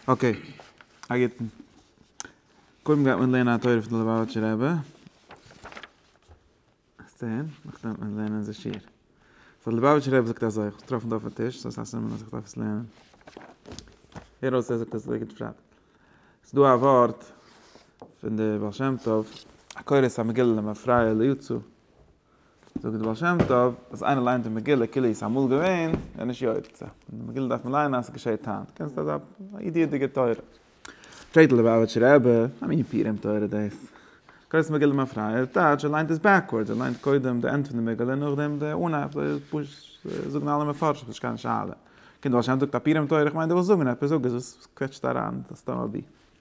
אקעי, א גוטן. קודם גייט מען לערנען א תורה פון די ליובאוויטשער רבי. עס זעהן, נאכדעם וועט מען לערנען איזה שיר. סאו די ליובאוויטשער רבי זאגט אזוי, איך האב עס געטראפן דא אויפן טיש, סאו עס איז א סימן אז איך דארף עס לערנען. הער אויס ער זאגט עס אזוי גוט פשט. עס איז דא א ווארט פון די בעל שם טוב, הקורא את המגילה למפרע לא יצא, זאגט דער בעל שם טוב, אז איינער ליינט די מגילה כאילו איז אמאל געווען, איז נישט יוצא. די מגילה דארף מען ליינען אז עס געשעט היינט. קענסט אזא אידיעדיגע תורה. פרעגט די ליובאוויטשע רבי, וואס מין פורים תורה דאס? קורץ מגילה מפריה, טייטש, ער ליינט עס בעקווארדס, ער ליינט קודם די ענד פון די מגילה און נאכדעם די אנהייב, אזוי איז פשוט, אזוי זאגן אלע מפרשים, ס'נישט קיין שאלה. קומט דער בעל שם טוב זאגט א פורים תורה, איך מיין דו ווילסט זאגן עפעס, זאג עס, וואס קוועטשסטו אריין סתם אבי.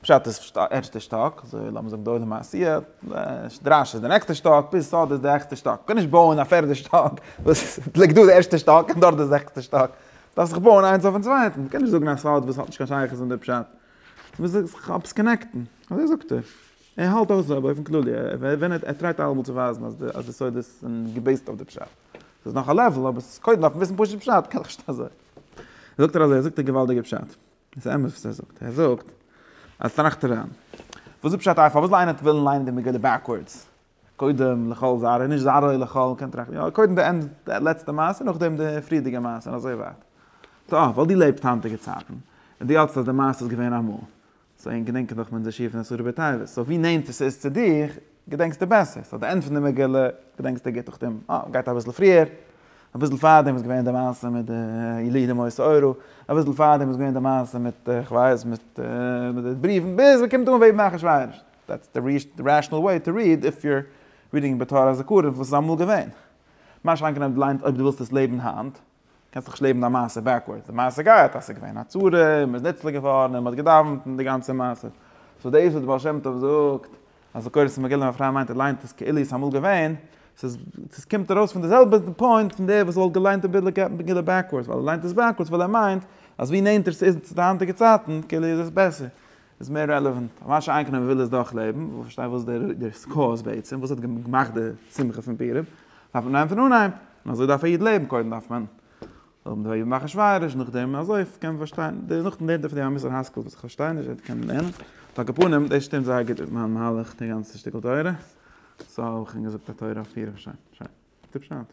פשט איז ערשטע שטאק, אזוי לאמיר זאגן די עולם העשיה, דרש איז די נעקסטע שטאק, ביז סאד איז די העכסטע שטאק, מ'קען נישט בויען א פערדע שטאק וואס ליגט דא די ערשטע שטאק און דארט די זעכסטע שטאק, דארף זיך בויען איינס אויפן צווייטן, מ'קען נישט זאגן א סוד וואס האט נישט קיין שייכות אין די פשט, מ'מוז זיך עפעס קאנעקטן, אזוי זאגט ער, ער האלט אויך אזוי באופן כללי, ער טרייט אלעמאל צו ווייזן אז די סודות זענען געבעיסט אויף די פשט, ס'איז נאך א לעוול אבער ס'איז קודם דארף מען וויסן פשוט פשט, קען דאך נישט אזוי, זאגט ער אזוי, זאגט ער געוואלדיגע פשט. איז אמת וואס ער זאגט? ער זאגט אז טראכט ער אריין, וואס איז פשט אויף פארוואס זאל איינער ווילן ליינען די מגילה בעקווארדס? קודם לכל זרע, נישט זרעו לכל, קען טראכטן יא, קודם די ענד, די לעצטע מעשה, נאכדעם די פריערדיגע מעשה און אזוי ווייטער. טא, ווייל דו לעבסט היינטיגע צייטן, און דו האלטסט אז די מעשה איז געווען אמאל, סאו ענק געדענקען דאך מען די שיעור פון אסור בתועבות, סאו ווי נענטער ס'איז צו דיך, געדענקסט דו בעסער, ס'איז די ענד פון די מגילה, געדענקסט דו גוט, נאכדעם גייט אביסל פריער, אביסל פארדעם איז געווען די מעשה מיט די ילידי מות אורו, אביסל פארדעם איז געווען די מעשה מיט כ'ווייס מיט די בריוון, ביז מ'קומט אן ויבנה אחשורוש, דעטס די רעשאנעל וועי טו ריעד איף יו אר רידינג בתור הזכרון וואס איז אמאל געווען. מה שאין כן אויב דו ליינט אויב דו ווילסט עס לעבן היינט. קענסט נישט לעבן דיין מעשה בעקווארדס, די מעשה גייט אז ס'איז געווען א צרה און מ'איז נצלה געווארן און מ'האט געדאווענט און די גאנצע מעשה. סאו דאס וואס די בעל שם טוב זאגט אז די קורא'ס מגילה ווען א פרוי מיינט און ליינט עס כאילו עס איז אמאל געווען, ס'איז ס'איז קומט ארויס פון די זעלבע פוינט פון דער וואס וואלט געליינט די מגילה בעקווארדס, ווייל ער ליינט עס בעקווארדס ווייל ער מיינט אז ווי נענטער ס'איז צו די היינטיגע צייטן כאילו איז עס בעסער. איז מער רעלעוואנט. ממש איינקענען וויל עס דאך לעבן, וויל פארשטיין וואס דער סקא איז בעצם, וואס האט געמאכט די שמחה פון פורים, דארף מען נעמען פון אנהייב, און אזוי דארף א איד לעבן, קודם דארף מען האבן די אויבן אחשורוש, נאכדעם אזוי קען מען פארשטיין, נאכדעם דארף מען א מוסר השכל וואס איך פארשטיי נישט, וועט קענען לערנען, על כל פנים דאס שטימט זייער גוט מיט מיין מהלך די גאנצע שטיקל תורה, סא האב איך שוין געזאגט א תורה אויף פורים, שוין, שוין, טיפש אויט.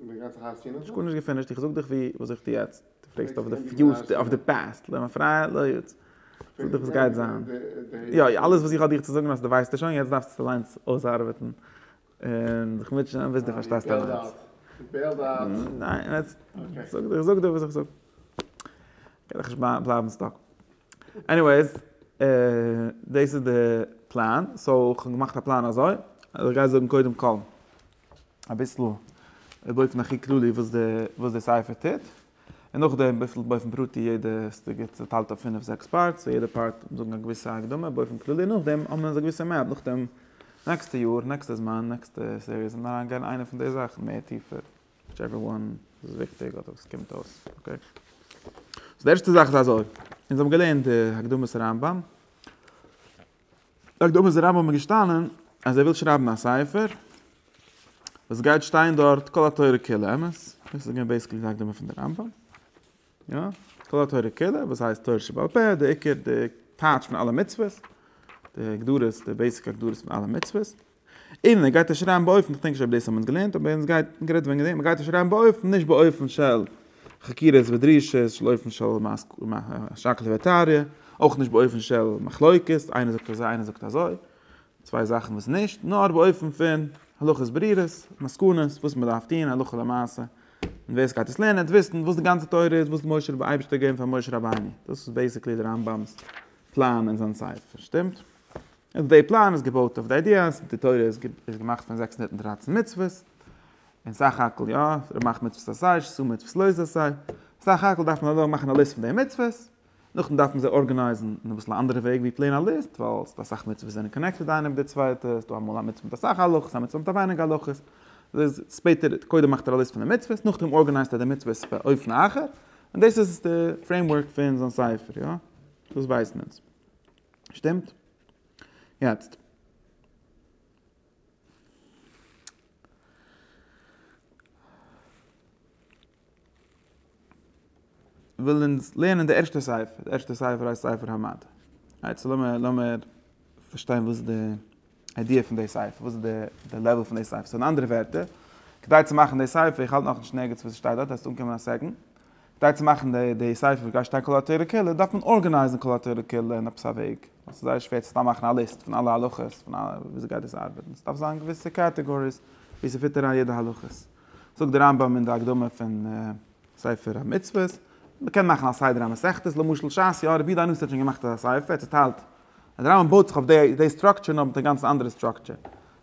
נישט גארנישט געפינישט, איך זאג דיך ווי וואס איך טו יעצט, דו פרעגסט אויף די פיוטש אויף די פאסט, למה פרייע לא יוט, איך זאג דיך וואס גייט זיין, יא אלעס וואס איך האב דיך צו זאגן האסטו ווייסטו שוין יעצט דארפסטו עס אליינס אויסארבעטן און זיך מוטשען ביז דו פארשטייסט אליינס. ניין יעצט איך זאג דיך וואס איך זאג קען איך נישט בלייבן סטאק, עניוועיס דאס איז די פלאן, סאו איך האב געמאכט א פלאן אזוי, אז איך גיי זאגן קודם כל. אביסל באופן הכי כללי וואס די וואס די ספר טוט, און נאכדעם אביסל באופן פרטי יעדע סוגיא צוטיילט אויף פינף זעקס פארטס, און יעדע פארט זאגן א געוויסע הקדמה באופן כללי, נאכדעם האבן אונז א געוויסע מעפ, נאכדעם נעקסטע יאר, נעקסטע זמן, נעקסטע סיריעס און אריין גיין איינע פון די זאכן מער טיפער, וויטשעווער וואן איז וויכטיג אדער וואס קומט אויס, אקעי. סאו די ערשטע זאך איז אזוי, אונז האבן געלערנט די הקדמת הרמב ם. זאגט דער אויבערשטער רבי האט מיר געשטאנען אז ער וויל שרייבן א ספר וואס עס גייט שטיין דארט כל התורה כולה אמת דאס איז געווען בעיסיקלי די הקדמה פון די רמב ם יא כל התורה כולה וואס הייסט תורה שבעל פה די עיקר די טייטש פון אלע מצוות די הגדרות די בעיסיק הגדרות פון אלע מצוות און ער גייט עס שרייבן באופן, כ'דענק נישט אויב דאס האמיר געלערנט, אבער אונז גייט גערעדט וועגן דעם, ער גייט עס שרייבן באופן, נישט באופן של חקירות ודרישות, של אופן של שקלא וטריא, אויך נישט באופן של מחלוקת, איינער זאגט אזוי איינער זאגט אזוי, צוויי זאכן וואס נישט, נאר באופן פון הלכות ברירות, מסקנות, וואס מען דארף טון הלכה למעשה, און ווער עס גייט עס לערנען וועט וויסן וואס די גאנצע תורה איז, וואס משה רב אייבערשטער האט געגעבן פאר משה רבינו, דאס איז בעיסיקלי די רמב ם'ס פלאן אין זיין ספר, שטימט? און די פלאן איז געבויט אויף די איידיע אז די תורה איז געמאכט פון זעקס הונדערט און דרײַצן מצוות, און סך הכל יא, ער מאכט מצוות אסאך, ש ס מצוות לויז אסאך, סך הכל דארף מען אדורך מאכן א ליסט פון די מצוות, נאכדעם דארף מען זיי ארגענייזן אין אביסל א אנדערע וועג ווי פלעין א ליסט, ווייל ס'דא אסאך מצוות וואס זענען קאנעקטעד איינע מיט די צווייטע, ס'דא אמאל א מצוה מיט אסאך הלכות, א מצוה מיט ווייניג הלכות, ספעטער, קודם מאכט ער א ליסט פון די מצוות, נאכדעם ארגענייזט ער די מצוות באופן אחר, און דאס איז די פרעימווארק פון זיין ספר, יא? דאס ווייסן אונז. שטימט? יעצט. וויל אונז לערנען די ערשטע ספר, די ערשטע ספר הייסט ספר המד. יעצט לאמיר לאמיר פארשטיין וואס די איידיע פון די ספר, וואס איז די לעוועל פון די ספר, סאו אין אנדערע ווערטער, כדי צו מאכן די ספר, איך האלט נאכנישט נערגיץ וואס עס שטייט דארט, דארפסטו אנקומען א סעקאנד, כדי צו מאכן די ספר וואס גייט שטיין כל התורה כולה, דארף מען ארגענייזן כל התורה כולה אין עפעס א וועג, ווייל ס'איז זייער שווער צו סתם מאכן א ליסט פון אלע הלכות, פון א וויאזוי גייט דאס ארבעטן, ס'דארף זיין געוויסע קעטעגאריס ווי ס'פיט אריין יעדע הלכות, זאגט דער רמב ם אין די הקדמה פון ספר המצוות, מ'קען מאכן א סדר המסכתות, למשל שס יא, רבי דן נוסח האט שוין געמאכט אזא ספר, ער האט צוטיילט אז די רמב ם בויט זיך אויף די די סטראקטשער נאר מיט א גאנץ אנדערע סטראקטשער.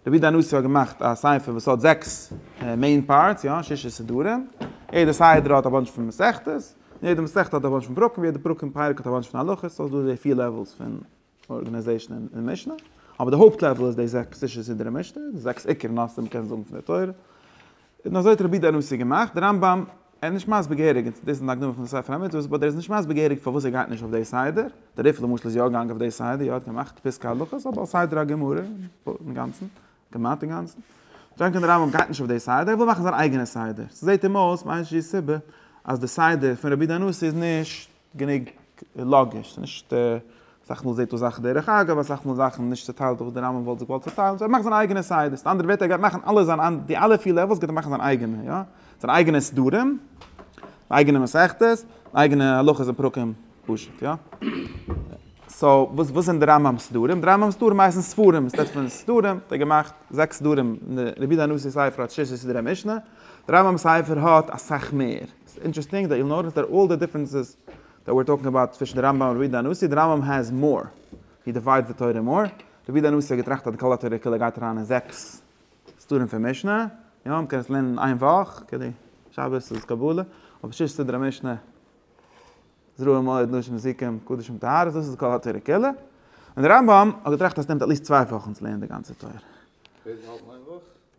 רבי דן עוזיאל האט געמאכט א ספר וואס האט זעקס מעין פארטס, יא, שישה סידורים. יעדע סדר האט א באנטש פון מסכתות, און יעדע מסכת האט א באנטש פון פרקים, און יעדע פרק און פרק האט א באנטש פון הלכות, סאו ס'דא די פיר לעוועלס פון ארגענעזעישן אין משנה. אבער די הויפט לעוועל איז די זעקס שישה סידורי משנה, די זעקס עיקר נושאים מ'קען זאגן פון די תורה. און אזוי האט רבי דער נשיא געמאכט, דער רמב ם איז נישט מסביר געהעריג, און דאס איז אין הקדמה פון ספר המצוות, באט ער איז נישט מסביר געהעריג פארוואס ער גייט נישט אויף די סדר, דער ריף למשל איז יא געגאנגען אויף די סדר, יא ער האט געמאכט פסקי הלכות, אבער על סדר הגמרא, אינגאנצן, כמעט אינגאנצן. זענט איר דער רמב ם גייט נישט אויף די סדר, ער וויל מאכן זיין אייגענע סדר, ס'זעט אים אויס מאין שהיא סיבה אז די סדר פון רבי דער נשיא איז נישט גענוג לאגיש, ס'איז נישט, אסאך מאל זעהט אויס זאכן דרך אגב, אסאך מאל זאכן נישט צוטיילט וואס דער רמב ם וואלט זיך געוואלט צוטיילן, סאו ער מאכט זיינע אייגענע סדר, מיט אנדערע ווערטער ער גייט מאכן אלע זיינע, די אלע פיר לעוועלס גייט ער מאכן זיין אייגענע, יא, זיינע אייגענע סדרים, אייגענע מסכתות, אייגענע הלכות און פרקים, פשוט, יא. סאו, וואס וואס זענען די רמב ם'ס סדרים? די רמב ם'ס סדרים הייסן ספרים, עס רעדט פון סדרים, האט ער געמאכט זעקס סדרים, רבי דן נוסיי'ס ספר האט שישה סדרי משנה, די רמב ם'ס ספר האט אסאך מער. ס'איז אינטערעסטינג דעט יו נאוטיס דעט אלל די דיפרענסעס דעט וויר טאלקינג אבאוט צווישן די רמב ם און רבי יהודה הנשיא, די רמב ם העז מאר, הי דיוויידס די תורה מאר, רבי יהודה הנשיא האט געטראכט אז די כל התורה כולה גייט אריין אין זעקס סדרים פון משנה, יא מ'קען עס לערנען אין איין וואך, כדי שבת איז קבלה, אבער שש סדרי משנה, זרוע מועד, נשים זיקים, קדשים טהרות, דאס איז כל התורה כולה, און די רמב ם האט געטראכט אז ס'נעמט עטליעסט צוויי וואכן צו לערנען די גאנצע תורה.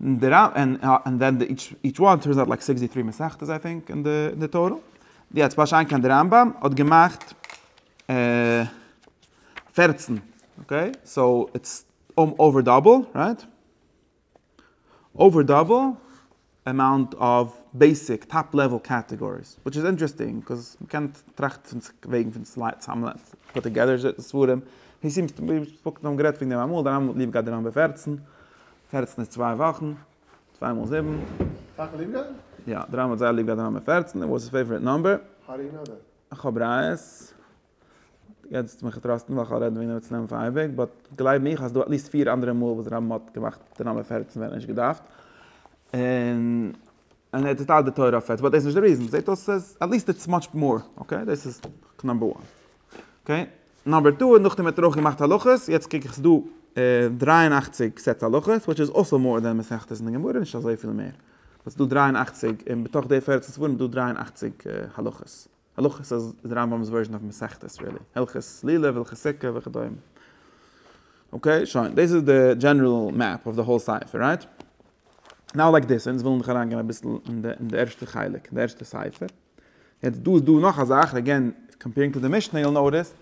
און דער רמב ם און ווען די איטש וואן טורנס אוט לייק סיקסטי טרי מסכתות איי טינק און די טאטעל יעצט בא שיין קיין די רמב ם האט געמאכט פערצן אקעי סאו איטס אויווער דאבל רייט אויווער דאבל. עמאונט אוו בעיסיק טאפ לעוועל קעטעגאריס, וויטש איז אינטערעסטינג קאוז מ'קען טראכטן פון וועגן פון צוזאמלייגן פוט טאגעדער ספרים, הי סימס טו בי ספאקן האבן גערעדט פון דעם אמאל, דיין רמב ם האט ליב געהאט די נומבער פֿערצן, פֿערצן איז צוויי וואכן, צוויי מאל זיבן. סאך ליב געהאט? יא, די רמב ם האט זייער ליב געהאט די נומבער פֿערצן, איט וואס היז פעיוואריט נומבער. האו דו נאו דעט? איך האב ראיות. יעצט מיך טראסטן ווייל כ'וועל רעדן וועגן רבי צלם פאר אייביג, באט גלייב מיך אז ס'דא עטליסט פיר אנדערע מאל וואס רמ מ האט געמאכט די נאמבער פֿערצן ווען ער האט נישט געדארפט, און און ער האט געטיילט די תורה אויף פֿערצן, באט דאס איז נישט די ריזן, זעט אויס אז עטליסט איטס מאטש מאר, אקעי, דאס איז נאמבער וואן. אקעי, נאמבער טו איז נאכדעם האט ער אויך געמאכט הלכות, יעצט קוק איך ס'דא דרײַ און אַכציק סעטס הלכות, וויטש איז אלסא מאר דען מסכת אין די גמרא, נישט אזויפיל מער, באט ס'דא דרײַ און אַכציק, און בתוך די פֿערצן ספרים איז דא דרײַ און אַכציק הלכות. הלכות איז די רמבם'ס ווערזשען אויף מסכת רילי, הלכות סלילה והלכות סוכה וכדומה. אקעי שוין, דאס איז די דזשענעראל מעפ אויף די האול ספר, רייט? נאו לייק דיס, אונז ווילן דאך אריינגיין אביסל אין די אין די ערשטע חלק, אין די ערשטע ספר. יעצט דא איז דא נאך א זאך, אגעין קאמפערינג טו די משנה יו וויל נאוטיס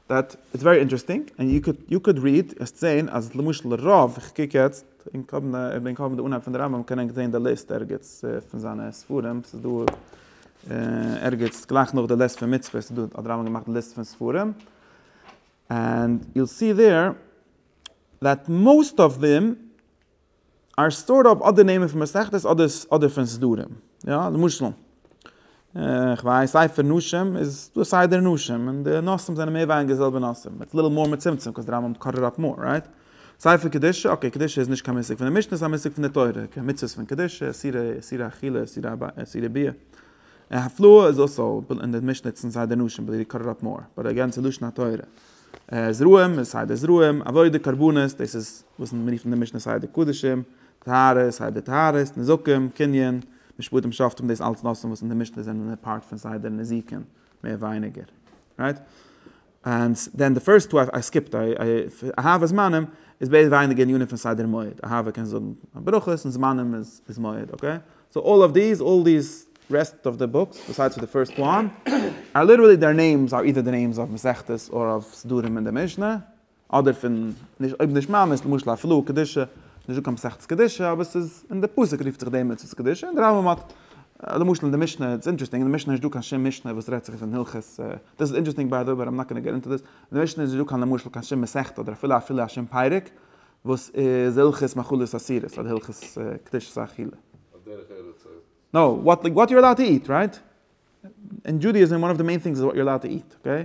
דעט איטס ווערי אינטערעסטינג, און יו קען יו קען ריעד, וועסט זען אז למשל רוב, איך קוק יעצט, און כבין כבין די אנהייב פון די רמבם, קען ענק זען די ליסט ערגעץ פון זיינע ספרים, ס'איז דא. ערגעץ גלייך נאך די ליסט פון מצוות איז דא האט הרמבם געמאכט די ליסט פון ספרים ענד יו סי דער דעט מאסט אוו דעם אר סטארט אויף אדער נעמען פון מסכת אדער אדער פון סדרים יא למשל כ'ווייס ספר נשים איז דא סדר נשים און די נושאים זענען מער ווייניגער די זעלבע נושאים מיט ליטעל מאר מצומצם קאוז די רמבם קאט איט אפ מאר רייט ספר קדושה, אקעי, קדושה איז נישט קיין מושג פון די משנה, ס'איז א מושג פון די תורה, כ א מצוות פון קדושה, איסורי איסורי אכילה, איסורי א ב, איסורי ב ה, און הפלאה איז אסור, אין די משנה נוצן זיי די נשים, בלי לקרר אפ מאר, ביי די גאנצע לשון התורה, זרעים איז סיי די זרעים, עבודה, קרבנות, דאס איז וואס מיר רופן אין די משנה סיי די קדשים, טהרה איז סיי די טהרות, נזקים, קנין, משפטים שופטים דאס אלץ נושאים וואס אין די משנה זענען א פארט פון סיי די נזיקין, מער ווייניגער, רייט? אנד דען די פירסט טו איי סקיפט איי אהבה זמנים איז בעז ה ווייניגער ענינים פון סדר מועד אהבה קען זאגן א ברכות און זמנים איז מועד אקעי סאו אלל אוו דיס אלל דיס רעסט אוו די בוקס ביסיידס די פירסט וואן אר ליטערלי דער נעימס אר אידער די נעימס אויף מסכתות אר אויף סדרים אין די משנה אדער פון נישט אויב נישט ממש למשל א פלו קדושה נישט דא קיין מסכת קדושה אבער ס'איז אין די פסוק רופט זיך דעם מצות קדושה און די רמב ם האט למשל אין די משנה איטס אינטערעסטינג אין די משנה נישט דא קיין שום משנה וואס רעדט זיך פון הלכות דאס איז אינטערעסטינג ביי די ווען ר' נקנה געט אונטער דאס, אין די משנה איז נישט דא קיין למשל קיין שום מסכתא אדער אפילו אפילו א שום פרק וואס איז הלכות מאכלות אסירות אדער הלכות קדושת האכילה. על דרך ארץ אויב. נאו, וואט לייק וואט יו אר אלאוד טו איט, רייט? אין דזשודעיזים וואן אוו די מעין טינגס איז וואט יו אר אלאוד טו איט, אקעי?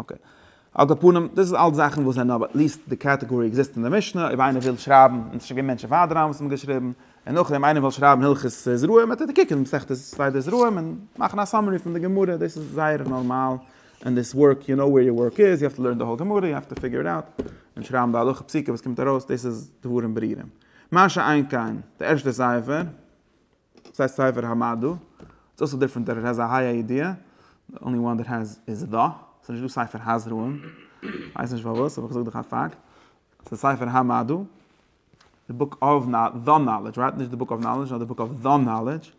אקעי. על כל פנים, דאס איז אלץ זאכן וואס זענען אבער עטליעסט די קאטעגארי עקזיסט אין די משנה, אויב איינער וויל שרייבן, און עס איז שוין געווען מענטשן פאר די רמב ם וואס האבן געשריבן, און נאכדעם איינער וויל שרייבן הלכות זרעים, וועט ער קוקן מסכת סדר זרעים און מאכן א סאמערי פון די גמרא, דאס איז זייער נארמאל אין דיס ווארק, יו נאו ווער יור ווארק איז, יו האוו טו לערן די האול גמרא, יו האוו טו פיגור איט אוט, און שרייבן די הלכה פסוקה וואס קומט ארויס, דאס איז דברים ברורים. מה שאין כן, די ערשטע ספר. סאיז ספר המדע, איטס אלסא דיפרענט דעט איט העז א היי א ידיעה, די אנלי וואן דעט העז איז ד, סאיז נישט דא ספר הזרעים, כווייס נישט פארוואס אבער כזאג דיך א פאקט, סאיז ספר המדע, די בוק אוו די נאלעדזש רייט, נישט די בוק אוו נאלעדזש נאר די בוק אוו די נאלעדזש,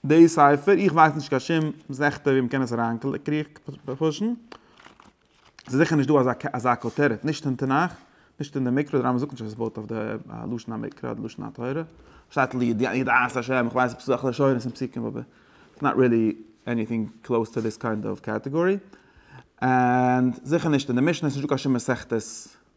די ספר איך ווייס נישט קיין שום זכותים ווי מען קען עס אריין קריכן, ס'איז זיכער נישט דא אזא כותרת, נישט אין תנך, נישט אין די מקרא, די רמב ם זאגט נישט אז עס בויט אויף די לשון המקרא אדער לשון התורה, שטייט לידיעת ה', איך ווייס עפעס אזעלכע לשונות און פסוקים אבער איטס נאט רילי עניטינג קלאוס טו דיס קיינד אוו קעטעגארי, און זיכער נישט אין די משנה, ס'איז נישט דא קיין שום מסכת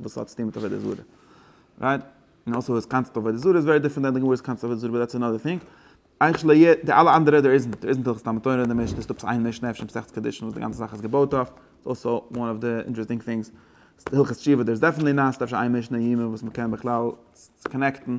וואס האט צוטון מיט עבודה זרה? רייט? און אויסער וואס קאנסעפט אויף עבודה זרה איז ווערי דיפרענט דען די גמרא'ס קאנסעפט אויף עבודה זרה באט דעטס אנאדער טינג. אייך ש ל י די אלע אנדערע דער איזנט דער איזנט הלכות תלמוד תורה און די משנה איז עפעס איין משנה אפשר מסכת קידושין וואס די גאנצע זאך איז געבויט אויף איז אלסא וואן אוו די אינטערעסטינג טינגס. הלכות תשובה דער איז דעפענטלי נאט אפשר איין משנה אין יומא וואס מ'קען בכלל קאנעקטן.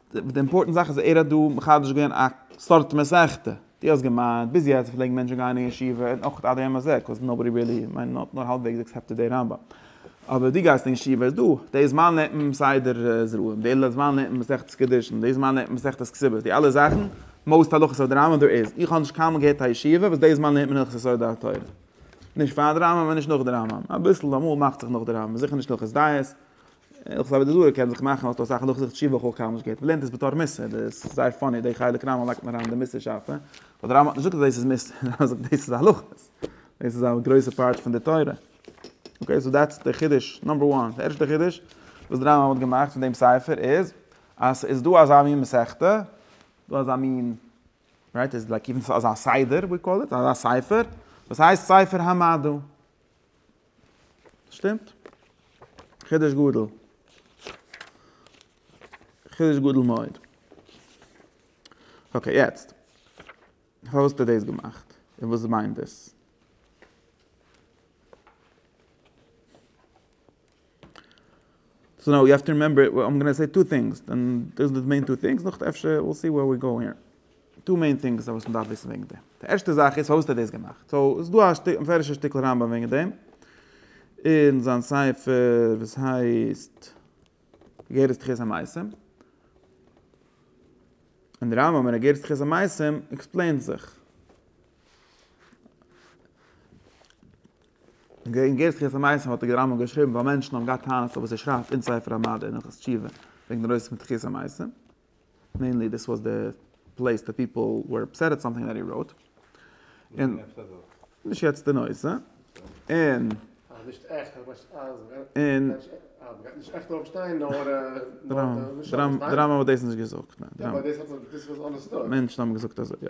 די אימפארטענט זאך איז ער האט דא מחדש געווען א סארט מסכתא. דו האסט געמיינט ביז יעצט פלעגן מענטשן גיין אין ישיבה און אויך עד היום הזה קאוז נאובאדי ריעלי מיין נאט נאר האלבוועגס עקסעפטעד די רמב ם אבער דו גייסט אין ישיבה איז דא די זמן לערנט מען סדר זרעים די זמן לערנט מען מסכת קידושין די זמן לערנט מען מסכת כסובות די אלע זאכן מאוסט הלכות אויף די רמב ם דא איז איך האב נישט קיינמאל געהערט א ישיבה וואס די זמן לערנט מען הלכות יסוד התורה נישט פאר די רמב ם און נישט נאך די רמב ם אביסל אמאל מאכט זיך נאך די רמב ם זיכער נישט הלכות דיעות איך זעה ווי די זוהר קען זיך מאכן אויס אסאך הלכות תשובה וכו' קאמאן זשע געט מ'לערנט עס בתור מוסר דאס איז זייער פאני די חלק רמ א לייגט אריין די מוסר שאפע ווייל די רמ א האט נישט געזאגט אז דאס איז מוסר די רמ א האט געזאגט דאס איז הלכות דאס איז א גרויסע פארט פון די תורה אקעי סאו דעטס די חידוש נאמבער וואן די ערשטע חידוש וואס די רמ א האט געמאכט פון דעם ספר איז אז ס'איז דא אזא מין מסכתא דא אזא מין רייט איז לייק אזא סדר ווי קאל איט אזא ספר וואס הייסט ספר המדע. שטימט? חידוש גדול. חידוש גדול מאוד. אקעי, יעצט. פארוואס האסטו דאס געמאכט? און וואס מיינט דאס? סאו נאו יו האב טו רימעמבער איט, איים גאנא סעי טו טינגס, דען דאס איז די מעין טו טינגס, נאך אפשר וויל סי ווער ווי גאו היער. טו מעין טינגס וואס מען דארף וויסן וועגן דעם. די ערשטע זאך איז פארוואס האט ער דאס געמאכט. סאו עס איז דא א מפורש'ע שטיקל רמב ם וועגן דעם, אין זיין ספר וואס הייסט אגרת תחיית המתים. און דער רמב ם אין אגרת תחיית המתים עקספלעינט זיך. אין די אינגערסקער פארמייסן האט דער רמב ם געשריבן ווייל מענטשן האבן געהאט טענות אויף וואס ער שרייבט אין ספר המדע אין הלכות תשובה וועגן די נושא פון תחיית המתים, מעינלי דיס וואס די פלעיס די פיפל ווער אפסעט עט סאמטינג דעט הי ראוט, און נישט יעצט די נושא, און און דער רמב ם האט דאס נישט געזאגט, מענטשן האבן געזאגט אזוי יא.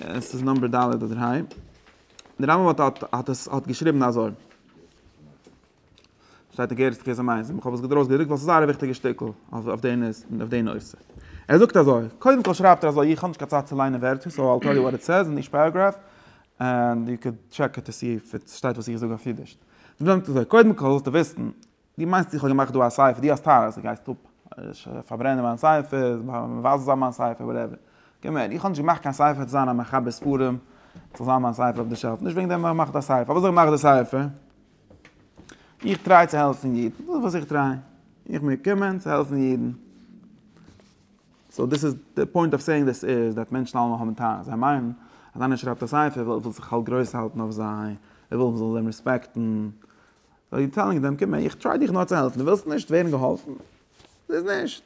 עס איז נומבער ד' אדער ה'. דער רמב ם האט האט האט עס האט געשריבן אזוי. שטייט אין גערעסט קעזע מייז, איך האב עס געדרויסט געדרוקט ווייל עס איז זייער א וויכטיגע שטיקל אויף אויף די נוס אויף די נושא. ער זאגט אזוי, קודם כל שרייבט ער אזוי איך האב נישט קיין צייט צו ליינען ווערטער סאו אייל טעל יו וואט איט סעז אין איטש פעראגראף ענד יו קען טשעק איט טו סי איף עס שטייט וואס איך זאג אויף אידיש. דער רמב ם זאגט אזוי, קודם כל זאלסטו וויסן, דו מיינסט איך האב געמאכט דא א ספר, דו האסט טענות, דו גייסט אפ פארברענען מיין ספר, מבזה זיין מיין ספר, וואטעווער. קום הער, איך האב נישט געמאכט קיין ספר צו זיין א מחבר ספרים, ס'זאל זיין מיין ספר אויף די שעלף, נישט וועגן דעם האב איך געמאכט א ספר, פארוואס האב איך געמאכט די ספר? איך טריי צו העלפן אידן, דאס איז וואס איך טריי, איך מיר קומען צו העלפן אידן. סאו דיס איז, די פוינט אוו סעיאינג דיס איז, דעט מענטשן אלעמאל האבן טענות, זיי מיינען אז איינער שרייבט א ספר וויל ער זאל זיך האלב גרויס האלטן אויף זיי, ער וויל מ'זאל אים רעספעקטן, אר יו טעלינג דעם קום איך טריי דיך נאר צו העלפן דו ווילסט נישט ווערן געהאלפן? ס'איז נישט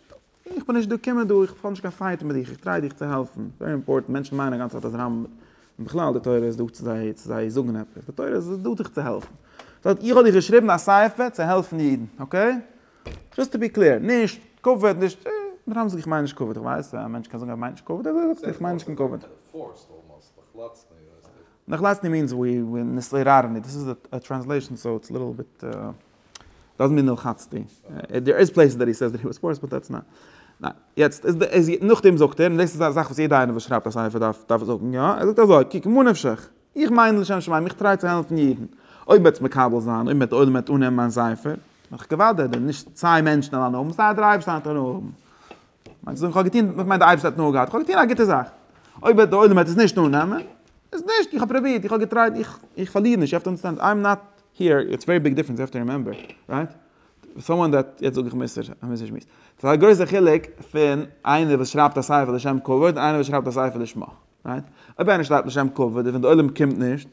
איך בין נישט דא קום דא איך האב נישט קיין פייט מיט דיך איך טריי דיך צו העלפן ווערי אימפארטענט מענטשן מיינען אגאנצע צייט אז רמ מ און בכלל די תורה איז דא צו זיי צו זיי זאגן עפעס די תורה איז דא דיך צו העלפן זאגט איך האב דיך געשריבן א ספר צו העלפן אידן אקעי זשאסט טו בי קלער נישט כבוד נישט רמ מ זאגט איך מיין נישט כבוד איך ווייס א מענטש קען זאגן ער מיינט נישט כבוד איך מיין נישט קיין כבוד. נחלתני מיענס ווי נתעוררני, דאס איז א טרענסלעישאן סאו איטס ליטעל ביט דאזענט מיען נלחצתי, דער איז פלעיסעס דעט הי סעיס דעט הי וואס פארסט באט דעטס נאט, יעצט איז נאכדעם זאגט ער, און דאס איז א זאך וואס יעדע איינער וואס שרייבט א ספר דארף דארף זאגן יא, ער זאגט אזוי, קוק מה נפשך, איך מיין לשם שמים, איך טריי צו העלפן יעדן, אויב וועטס מקבל זיין, אויב וועט די עולם וועט אננעמען מיין ספר, וועל איך געוואדעט דען נישט צוויי מענטשן אליין האבן, סיי דער אייבערשטער וועט אונז האבן. מיינסט אז איך האב געטון, איך מיין די אייבערשטער האט נאר געהאט, איך האב געטון א גוטע זאך, אויב וועט די עולם וועט עס נישט אננעמען, איז נישט, איך האב פרובירט, איך האב געטרייט, איך איך פארליר נישט, יו העוו טו אנדערסטענד, איי עם נאט היער, איטס א ווערי ביג דיפרענס, יו העוו טו רימעמבער, רייט? סאמאן דעט, יעצט זאג איך מוסר, א מוסר שמועס, ס'איז א גרויסע חילוק פון איינער וואס שרייבט א ספר לשם כבוד און איינער וואס שרייבט א ספר לשמה, רייט? אויב איינער שרייבט לשם כבוד און ווען די עולם קומט נישט.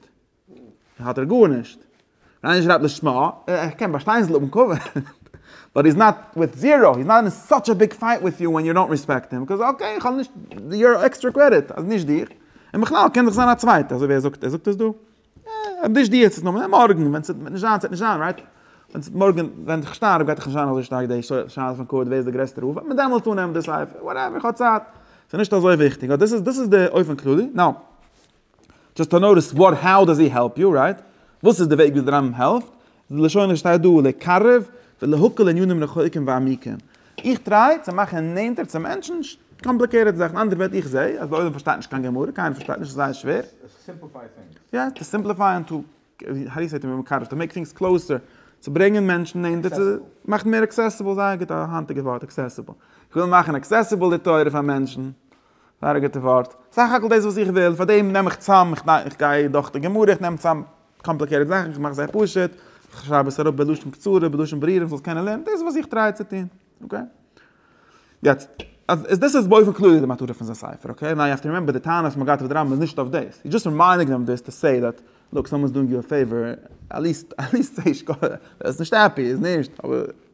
האט ער גארנישט. ריינער שרייבט לשמה, איך קען באשטיין ז ל האבן כבוד, באט היז נאט וויט זירא, היז נאט אין סאטש א ביג פייט וויט יו ווען יו דאנט ריספעקט הים, ביז אקעי איך האב נישט יור עקסטרע קרעדיט, אז נישט דיך, און בכלל קען דאך זיין א צווייטע, אזוי ווי ער זאגט, ער זאגט עס דא, אז נישט דיך צו נאמען, מארגן ווען ס'וועט נישט זיין ס'וועט נישט זיין, רייט? ווען ס'וועט מארגן ווען איך שטארב גייט דאך נישט זיין אזוי שטארק די שאלה פון כבוד ווער איז די גרעסטע רב, וועט מען דעמאלטס אננעמען די ספר, וואטעווער איך האב צייט, ס'נישט אזוי וויכטיג, אט דאס איז דאס איז די אופן כללי, נאו. דזשאסט טו נאו דאס ווארט האו דאז הי העלפ יו, רייט? וואס איז די וועג וויאזוי דער רמב ם העלפט? די לשון וואס שטייט דא לקרב ולהקל ענינים רחוקים ועמיקים. איך טריי צו מאכן נענטער צו מענטשן קאמפליקעיטעד זאכן. אנדערע ווערטער, איך זעה אז די עולם פארשטייט נישט קיין גמרא, קיינער פארשטייט נישט, עס איז זייער שווער. יא, טו סימפליפיי און טו האו די סעי טו מקרב, טו מעיק טינגס קלאוסער, צו ברענגען מענטשן נענטער, צו מאכן מער עקסעסיבל, זייער גוט א היינטיגע ווארט, עקסעסיבל. איך וויל מאכן עקסעסיבל די תורה פאר מענטשן. זייער א גוטע ווארט. סך הכל דאס וואס איך וויל, פאר דעם נעם איך צאם, איך גיי דורך די גמרא, איך נעם צאם קאמפליקעטעד זאכן, איך מאך זיי פשוט, איך שרייב עס אראפ בלשון קצרה, בלשון ברורה, איך זאל עס קענען לערנען, דאס איז וואס איך טריי צו טון. אקעי? יעצט, אז דאס איז באופן כללי די מטרה פון זיין ספר, אקעי? נאו יו האוו טו רימעמבער די טענה וואס מען גייט אויף די רמב ם איז נישט אויף דאס, היז דזשאסט רימיידינג דעם דיס טו סעי דעט, לוק סאמאן איז דואינג יו א פעיווער, עטליסט, עטליסט זיי נישט, ער איז נישט העפי, ער איז נישט, אבער.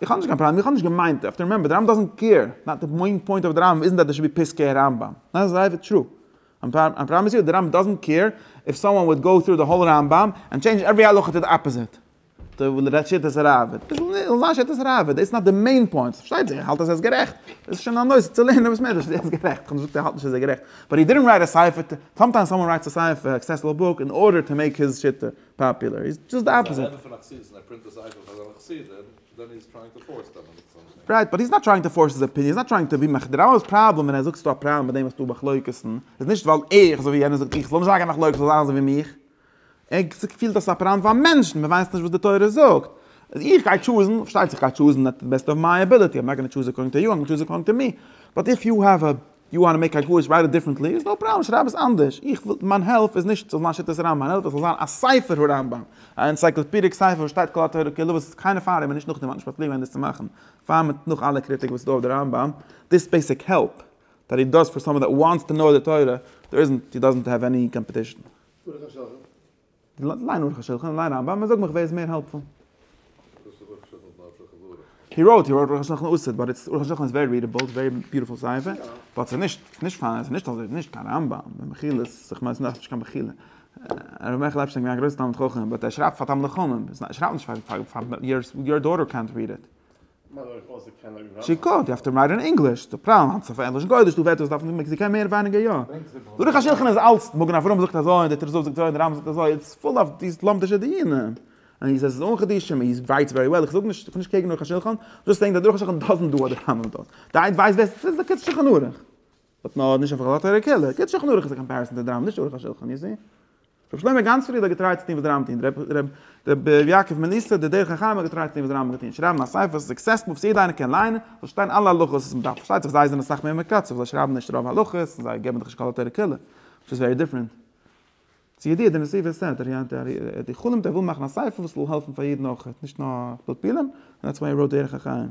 איך האב נישט קיין פראבלעם, איך האב נישט געמיינט, יו האוו טו רימעמבער, די רמב ם דאזענט קעיר, נאט די מעין פוינט אוו די רמב ם איזנט דעט דער שוד בי פסקי רמב ם, דעט איז אויך טרו, מיין פראבלעם איז יו די רמב ם דאזענט קעיר איף סאמאן וואלט גאו טרו די האול רמב ם ענד טשעינדזש עווערי הלכה טו די אפאזיט טו די שיטת הראבד, דאס זאל זיין שיטת ראבד, דאס איז נאט די מעין פוינט, פארשטייט זיך איך האלט אז ער איז גערעכט, דאס איז שוין א נושא צו לערנען וואס מענטש איז גערעכט, איך האב נישט געזאגט ער האלט נישט אז ער איז גערעכט, באט הי דידנט רייט א ספר, סאמטיימס סאמאן רייטס א ספר, עקסעסעבל בוק, אין ארדער טו מעיק היז שיטה. פאפולער, איז דזשאסט די אפאזיט. רייט, באט היז נאט טרייאינג טו פארס היז אפיניען, היז נאט טרייאינג טו ווי מאכן, דער רמבם'ס פראבלעם ווען ער זאגט ס'דא א פראבלעם מיט דעם וואס ס'דא מחלוקת'ן, איז נישט ווייל איך, אזוי ווי יענער זאגט, איך זאל נישט אריינגיין אין מחלוקת, ס'זאל זיין אזוי ווי מיך. ער פילט אז ס'איז א פראבלעם פאר מענטשן, מען ווייסט נישט וואס די תורה זאגט. אז איך גיי טשוזן, פארשטייט זיך איך גיי טשוזן אט די בעסט אוו מיי עביליטי, איים נאט גאנא טשוז עקארדינג טו יו, איים גאנא טשוז עקארדינג טו מי. באט איף יו העוו א יו וואנט טו מעיק א גרויס רייט איט דיפרענטלי איז נאו פראבלעם שרייב עס אנדערש איך וויל מיין העלפ איז נישט ס'זאל זיין שיטת הרמב ם מיין העלפ איז ס'זאל זיין א ספר הרמב ם א אנציקלאפידיק ספר וואס שטייט כל התורה כולה וואס קיינער פאר אים און נישט נאך דעם האט נישט באפליקט ווען דאס צו מאכן פאר מיט נאך אלע קריטיק וואס איז דא אויף די רמב ם דיס בעיסיק העלפ דעט הי דאז פאר סאמאן דעט וואנטס טו נאו די תורה דער איזענט הי דאזענט העוו עני קאמפעטישן. ליין אורך השולחן און ליין רמבם און זאג מיך ווער איז מער העלפפול. דאס איז אורך שולחן פלאץ פאר חברה. הי ראוט הי ראוט אורך השולחן אסר'ט באט איטס אורך השולחן איז ווערי רידעבעל איטס ווערי ביוטיפול ספר באט ס'איז נישט ס'איז נישט פיין ס'איז נישט אזוי ס'איז נישט קיין רמבם במחילה ס'איז כ'מיין ס'איז נאך נישט קיין מחילה הרב מעכל עפשטיין א גרויסע תלמיד חכם באט ער שרייבט פאר תלמידי חכמים ער שרייבט נישט פאר פאר יור דאטער קענט ריד איט. שיכור, יו העוו טו רייט אין ענגליש, ס'איז א פראבלעם היינט צו פענדלען גוי'דיש, דא ווערט עס דארפן די מעקסיקאנער מער ווייניגער יא. דורך א שדכן איז אלץ, מגן אברהם זאגט אזוי און די תרס ו זאגט אזוי און די רמב ם זאגט אזוי, איטס פול אוו דיס לומדישע דיונים. און איר זעט עס איז אן חידושים און איר ווייסט ווערי וועל, איך זאג נישט, איך בין נישט קעגן דורך השדכן, דזשאסט סעיאינג דער דורך השדכן דאזענט דא אדער רמב ם דאזענט, די איינס ווייסט בעסער, ס'איז א קונץ שולחן ערוך. האט נאר נישט אויף חוות הרקעלה, קען שכנא ערוך איז א קאמפעריסאן צו די רמב נישט ערוך השולחן איז זי. רבי שלמה גאנץ פריעד האט געטרייט צו טון וואס די רמב טוהן, רבי רבי יעקב מליסא די דרך החיים האט געטרייט צו טון וואס די רמב האט געטוהן, שרייבן א ספר וואס איז עקסעסבל וואס יעדע איינער קען ליינען, זאל שטיין אלע הלכות וואס מ'דארף, פארשטייט זיך זיי זענען אסאך מער מקצר, זיי שרייבן נישט רוב הלכות, און זיי געבן דיך נישט כל התורה כולה, וויטש איז ווערי דיפרענט. צו ידיעה די נשיא ווער עס הערט, ער חלומ'ט ער וויל מאכן א ספר וואס זאל העלפן פאר יעדן אויך, נישט נאר פלפולים, און דעטס וואי ער ראוט דרך החיים.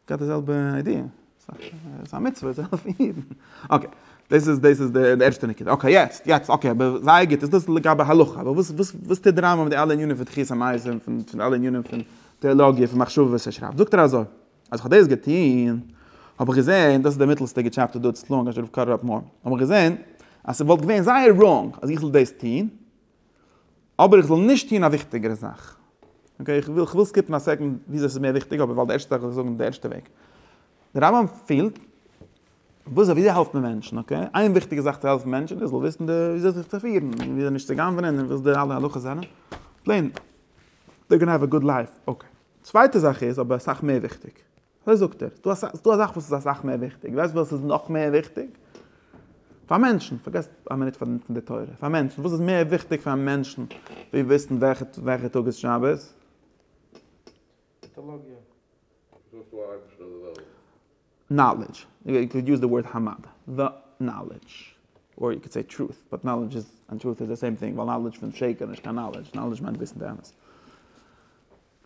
געהאט די זעלבע איידיע, ס'איז א מצוה צו העלפן אידן, אקעי, דאס איז דאס איז די ערשטע נקודה, אקעי יעצט יעצט אקעי אבער זייער גוט איז דאס לגבי הלכה, אבער וואס וואס וואס טוט די רמב ם מיט די אלע ענינים פון תחיית המתים פון אלע ענינים פון טעאלאגיע פון מחשבה וואס ער שרייבט, זאגט ער אזוי, אז כ'האב דאס געטון האב איך געזען, דאס איז די מיטלסטע געטשעפטע דא, עס איז צו לאנג, האב איך געזען אז ס'וואלט געווען זייער ראנג אז איך זאל דאס טון, אבער איך זאל נישט טון א וויכטיגערע זאך. אקעי, איך וויל סקיפן א סעקנד וויאזוי ס'איז מער וויכטיג, אבער ווייל די ערשטע זאך וויל איך זאגן די ערשטע וועג. דער רמב ם פילט וויאזוי וויאזוי העלפט מען מענטשן, אקעי? איין וויכטיגע זאך צו העלפן מענטשן איז ער זאל וויסן די וויאזוי זיך צו פירן, און וויאזוי נישט צו גנב'נען, און וואס די אלע הלכות זענען. פלעין, דער גענאר וועט גוד לייף, אקעי. צווייטע זאך איז אבער אסאך מער וויכטיג. אזוי זאגט ער, ס'איז דא א זאך וואס איז אסאך מער וויכטיג, ווייסט וואס איז נאך מער וויכטיג פאר מענטשן, פארגעס א מינוט פון די תורה, פאר מענטשן, וואס איז מער וויכטיג פאר מענטשן ווי וויסן וועלכע טאג איז שבת? נאלעדזש, יו קען יוז די ווארד המד, די נאלעדזש, אדער יו קען סעי טרוט, באט נאלעדזש איז, און טרוט איז די סעים טינג, ווייל נאלעדזש פון שקר איז נישט קיין נאלעדזש, נאלעדזש מיינט וויסן די אמת.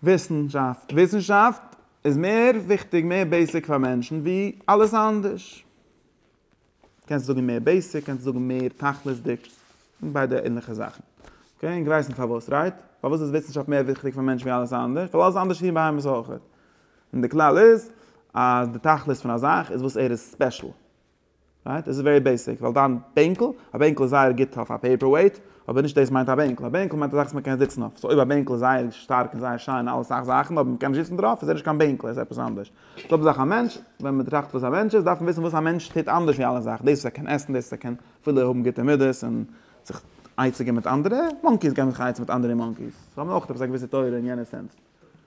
וויסנשאפט, וויסנשאפט איז מער וויכטיג, מער בעיסיק פאר מענטשן ווי אלעס אנדערש. קענסט זאגן מער בעיסיק, קענסט זאגן מער תכלית'דיג, זענען ביידע ענליכע זאכן. אקעי, אונז ווייסן פארוואס, רייט? פארוואס איז וויסנשאפט מער וויכטיג פאר מענטשן ווי אלעס אנדערש? ווייל אלעס אנדערש איז פון בהמות אויכעט. און די כלל איז אז די תכלית פון א זאך איז וואס ער איז ספעשל. רייט? עס איז ווערי בעיסיק, ווייל דיין בענקל, א בענקל איז זייער גוט אויף א פעיפער וועיט, אבער נישט דאס מיינט א בענקל, א בענקל מיינט א זאך וואס מען קען זיצן אויף, סאו אויב א בענקל איז זייער שטארק און זייער שיין און אלע סאך זאכן אבער מען קען נישט זיצן דערויף איז ער נישט קיין בענקל ער איז עפעס אנדערש, זעלבע זאך א מענטש, ווען מען טראכט וואס א מענטש איז דארף מען וויסן וואס א מענטש טוט אנדערש ווי אלע זאכן, דאס וואס ער קען עסן, דאס וואס ער קען אפילו האבן גוטע מידות און זיך עצה געבן מיט אנדערע, מאנקיס געבן זיך עצה מיט אנדערע מאנקיס, זיי האבן אויך עפעס א געוויסע תורה אין יענע סענס,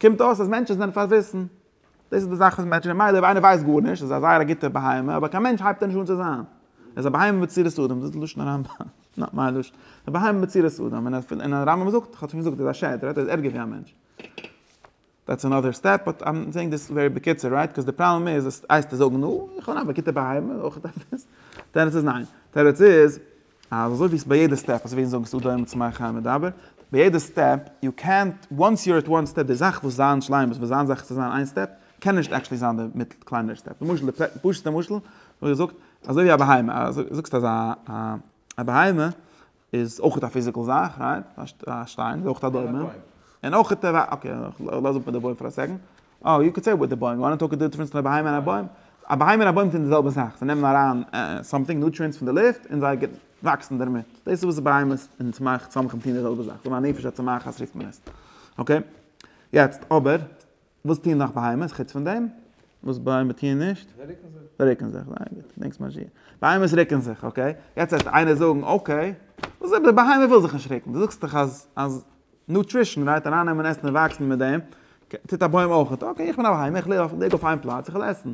קומט אויס אז מענטשן זענען פארוויסן. דאס איז די זאך מיט מענטשן, ממילא אויב איינער ווייסט גארנישט איז ער א זייער א גוטער בהמה, אבער קיין מענטש הייבט ער נישט אן צו זיין. ער איז א בהמה בצורת אדם, דאס איז לשון הרמב ם, נאט מיין לשון. א בהמה בצורת אדם, און און הרמב ם זאגט, כ'האב שוין געזאגט, ער איז א שד, ער רעדט ער איז ערגער ווי א מענטש. דעטס אנאדער סטעפ, באט איים סעינג דיס ווערי בקיצור, רייט? קאוז די פראבלעם איז אז הייסט צו זאגן, נו, איך בין אויך א גוטער בהמה, אויך עפעס? תירוץ איז ניין. תירוץ איז, אז אזוי ווי ס'איז ביי יעדע סטעפ, אזוי ווי אונז זאגן סעודה אין מצות מים חיים מדבר, ביי יעדע סטעפ, יו קענט, וואנס יו אר עט וואן סטעפ, די זאך וואס זיין שלימות, וואס זיין זאך צו זיין איין סטעפ, קען נישט עקטשעלי זיין די מיט קליינערע סטעפ. למשל די פשוט'סטע משל וואס איך זאגט, אזוי ווי א בהמה, אז דו זאגסט אז א בהמה איז אויך א פיזיקעל זאך, רייט? א שטיין איז אויך א דומם. און אויך, אקעי, לאז אפ מיט די בוים פאר א סעקענד. אה, יו קען סעי וויט די בוים, יו וואנט טאלק די דיפרענס פון א בהמה און א בוים? א בהמה און א בוים טוען די זעלבע זאך, זיי נעמען אריין סאמטינג, נוטריענטס פון די לופט, און זיי וואקסן דערמיט. דאס איז וואס בהמות און צמח צמחים טוען די זעלבע זאך, זאג מיין נפש הצומחת רופט מען עס. אקעי. יעצט אבער, וואס טוען נאך בהמות חוץ פון דעם? וואס בהמות טוען נישט? זיי רוקן זיך. זיי רוקן זיך, זייער גוט. דענקסט מיין שיעור. בהמות רוקן זיך, אקעי. יעצט וועט איינער זאגן, אקעי, וואס איז אויב די בהמה וויל זיך נישט רוקן? דו זאגסט דאך אז אז. נוטרישן, מ'דארף ארייננעמען עסן און וואקסן מיט דעם, טוט א בוים אויכעט, אקעי איך בין א בהמה, איך לעב, ליג אויף איין פלאץ, איך וויל עסן,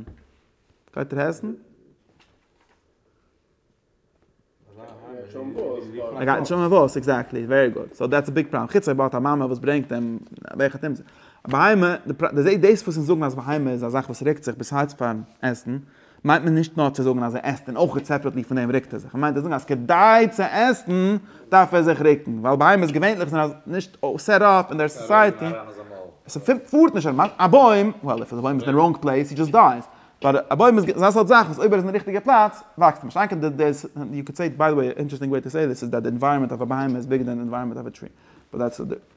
גייט ער עסן? ער גייט נישט האבן וואס, עקזעקטלי, ווערי גוד, סאו דעטס א ביג פראבלעם, חוץ אויב ער האט א מאמע וואס ברענגט אים, וועלכע טעמפ, א בהמה, דאס וואס אונז זאגן אז בהמה איז א זאך וואס רוקט זיך ביז הארץ פארן עסן, מיינט מען נישט נאר צו זאגן אז ער עסט און אויך סעפערעטלי פון דעם רוקט ער זיך, מען מיינט צו זאגן אז כדי צו עסן דארף ער זיך רוקן, ווייל בהמות געווענליך זענען נישט סעט אפ אין דער סאסייעטי, עס פארט נישט אויטאמאטיש, א בוים, וועל איף א בוים איז אין די ראנג פלעיס הי דזשאסט דייס, באט א בוים איז אזא סארט זאך וואס אויב ער איז אין די ריכטיגע פלאץ וואקסט ער נישט, איינקער די דעיס, יו קען סעי איט ביי די וועי, אינטערעסטינג וועי טו סעי דיס איז דעט די ענווייראמענט אוו א בהמה איז ביגער דען די ענווייראמענט אוו א טרי, באט דעטס.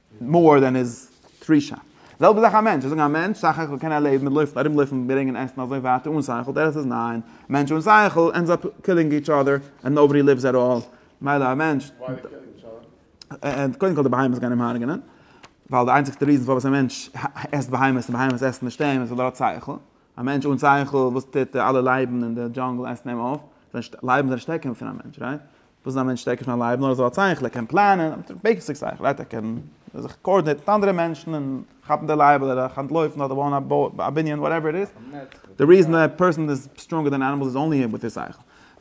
מאר דען איז טרישא. זעלבע זאך א מענטש, זיי זאגן א מענטש סך הכל קען ער לעבן מיט לויפן ארום לויפן ברענגען עסן אזוי ווייטער אן שכל, תירוץ איז ניין, מענטש אן שכל ענדס אפ קילינג איטש אדער ענד נאובאדי ליווס עט אלל, מילא א מענטש, ענד קודם כל די בהמות גייען אים הרג'נען, ווייל די איינציגסטע ריזען פארוואס א מענטש עסט בהמות און בהמות עסן נישט אים איז ווייל ער האט שכל, א מענטש אן שכל וואס טוט די אלע לייבן אין די דזשאנגל עסן אים אויף, לייבן זענען שטערקער פון א מענטש, רייט? וואס איז א מענטש שטערקער פון א לייב? נאר אזוי א צייכלער קען פלאנען, אפשר בעיסיק צייכלערהייט, ער קען זיך קאארדינעיטן מיט אנדערע מענטשן און כאפן די לייב אדער אויך אנטלויפן אדער בויען א בנין וואטעווער איט איז. די ריזען א פערסאן איז סטראנגער דען ענימעלס איז אנלי וויט היז שכל.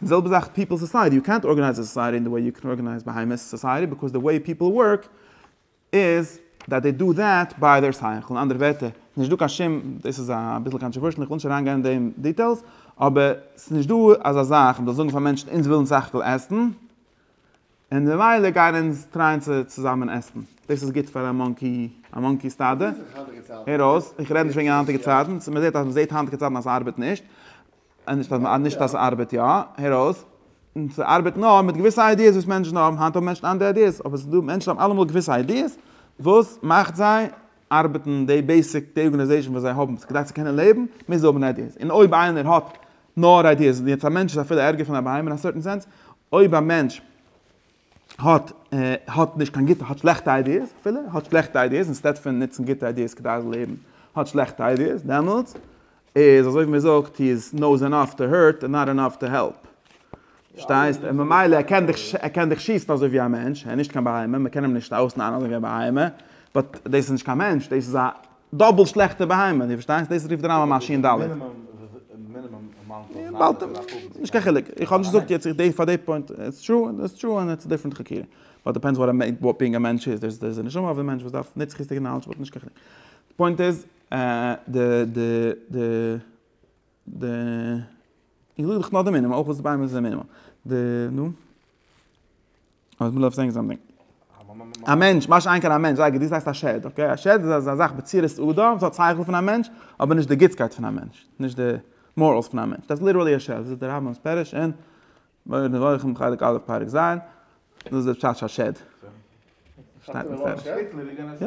די זעלבע זאך פיפעל סאסייעטי, יו קענט ארגענייז א סאסייעטי אין די וועי יו קען ארגענייז בהמות סאסייעטי, ביקאוז די וועי פיפעל ווארק, איז דעט דעי דא דעט ביי דער שכל, אין אנדערע ווערטער, עס איז נישט דא קיין שום, דאס איז אביסל קאנטראווערשעל איך וויל נישט אריינגיין אין די דיטעילס, אבער עס איז נישט דא אזא זאך מען זאל זאגן פאר מענטשן אונז ווילן סך הכל עסן, און ממילא גייען אונז טרייען צו צוזאמען עסן, דאס איז גוט פאר א מאנקי, א מאנקי סטאדע, הער אויס, איך רעד נישט וועגן היינטיגע צייטן, מען זעט אז מען זעט היינטיגע צייטן אז עס ארבעט נישט, אז נישט אז ס'ארבעט יא, הער אויס, ס'ארבעט נאר מיט געוויסע איידיעס וואס מענטשן האבן, היינט האבן מענטשן אנדערע איידיעס, אבער ס'דא מענטשן וואס האבן אלעמאל געוויסע איידיעס וואס מאכט זיי ארבעטן, די בעיסיק, די ארגענעזעישן וואס זיי האבן כדי צו קענען לעבן מוז האבן איידיעס, און אויב איינער האט נאר איידיעס, און יעצט א מענטש איז אפילו ערגער פון א בהמה אין א סערטען סענס, אויב א מענטש. האט האט נישט קיין גוטע האט שלעכטע איידיעס אפילו האט שלעכטע איידיעס אינסטעד פון נוצן גוטע איידיעס כדי זיין לעבן האט שלעכטע איידיעס דעמאלטס איז אזוי ווי מען זאגט הי איז נאוס ענאף טו הערט און נאט ענאף טו העלפ שטייסט און ממילא ער קען דיך ער קען דיך שיסן אזוי ווי א מענטש ער איז נישט קיין בהמה מען קען אים נישט אויסנארן אזוי ווי א בהמה באט דאס איז נישט קיין מענטש דאס איז א דאבעל שלעכטע בהמה, די פארשטייסט? דאס רופט די רמב ם א שי ן ד'. נישט קיין חילוק, איך האב נישט געזאגט יעצט איך פאר די פוינט, איטס טרו און איטס טרו און איטס א דיפרענט חקירה. באט דיפענדס וואט א בינג א מענטש איז, דער איז נשמה אויף די מענטש וואס דארף נצחיות'דיגע נאלעדזש באט נישט קיין חילוק. די פוינט איז די די די די איך זאג דאך נאר די מינימום אויך וואס די בהמה איז די מינימום די נו. אז מ'דארף זען זאמטינג. א מענטש, משא כ איין קיין א מענטש, זייגער, דאס הייסט א שד, אקעי? א שד איז א זאך בצורת אדם, ס'האט שכל פון א מענטש, אבער נישט די גוטסקייט פון א מענטש, נישט די מאראלס פון א מענטש, דאס איז ליטערלי א שד, זאגט דער רמב ם'ס פירוש אין מורה נבוכים חלק א' פרק ז', דאס איז דער פשט של שד. שטייט מפורש. יא.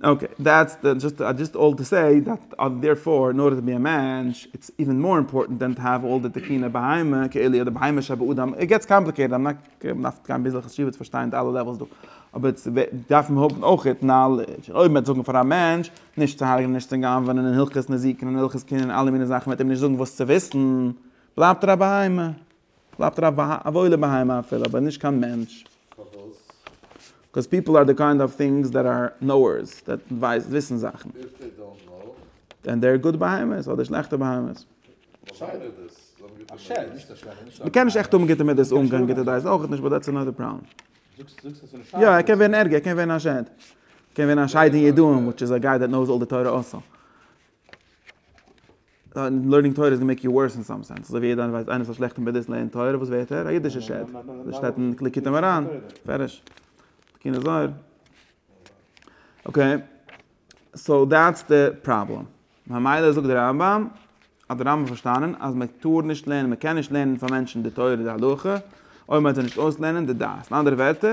אקעי, דעטס די, דזשאסט איי דזשאסט אלל טו סעי דעט אז דערפאר אין ארדער טו בי א מענטש איטס איווען מאר אימפארטענט דען טו האוו אלל די תקינא בהמה כאילי' אדער בהמה שבאדם, איט געטס קאמפליקעיטעד, איים נאט, מען דארף גיין ביז א חשיבות פארשטיין די אלע לעוועלס דא, אבער איטס דארף מען האבן אויך איט נאלעדזש, אויב מען וועט זאגן פאר א מענטש נישט צו הרג'נען נישט צו גנב'ענען אין הלכות נזיקין אין הלכות קנין אין אלע מיני זאכן מען וועט אים נישט זאגן וואס צו וויסן, בלייבט ער א בהמה. בלייבט ער א וואוילע בהמה אפילו, אבער נישט קיין מענטש. פארוואס? בקאוז פיפל אר די קיינד אוו טינגס דעט אר נאוערס, דעט וויסן זאכן. איף דעי דאנט נאו. דען דעי אר גוד בהמות אדער שלעכטע בהמות. באשיידע איז דאס, זיי האבן גוטע מידות. מ'קען נישט עכט האבן גוטע מידות אן קיין גוטע דעת אויכעט נישט באט דעטס אנאדער פראבלעם. יא ער קען ווערן ערגער, ער קען ווערן א שד. ער קען ווערן א שד אין ידועים וויטש איז א גיי דעט נאוס אלל די תורה אסור. לערנינג תורה איז גענוג מעיק יו ווארס אין סאם סענס, אזוי ווי יעדער ווייסט איינער ס'איז א שלעכטע מדות לערנען תורה וואס ווערט ער? א אידישע שד, אזוי שטייט אין ליקוטי מוהראן, מפרש, תיקוני זוהר. אקעי, סאו דעטס די פראבלעם, ממילא זאגט די רמב ם, האט די רמב ם פארשטאנען אז מען טאר נישט לערנען, מען קען נישט לערנען פאר מענטשן די תורה די הלכה, אויב מען וועט זיי נישט אויסלערנען די דעת, אין אנדערע ווערטער,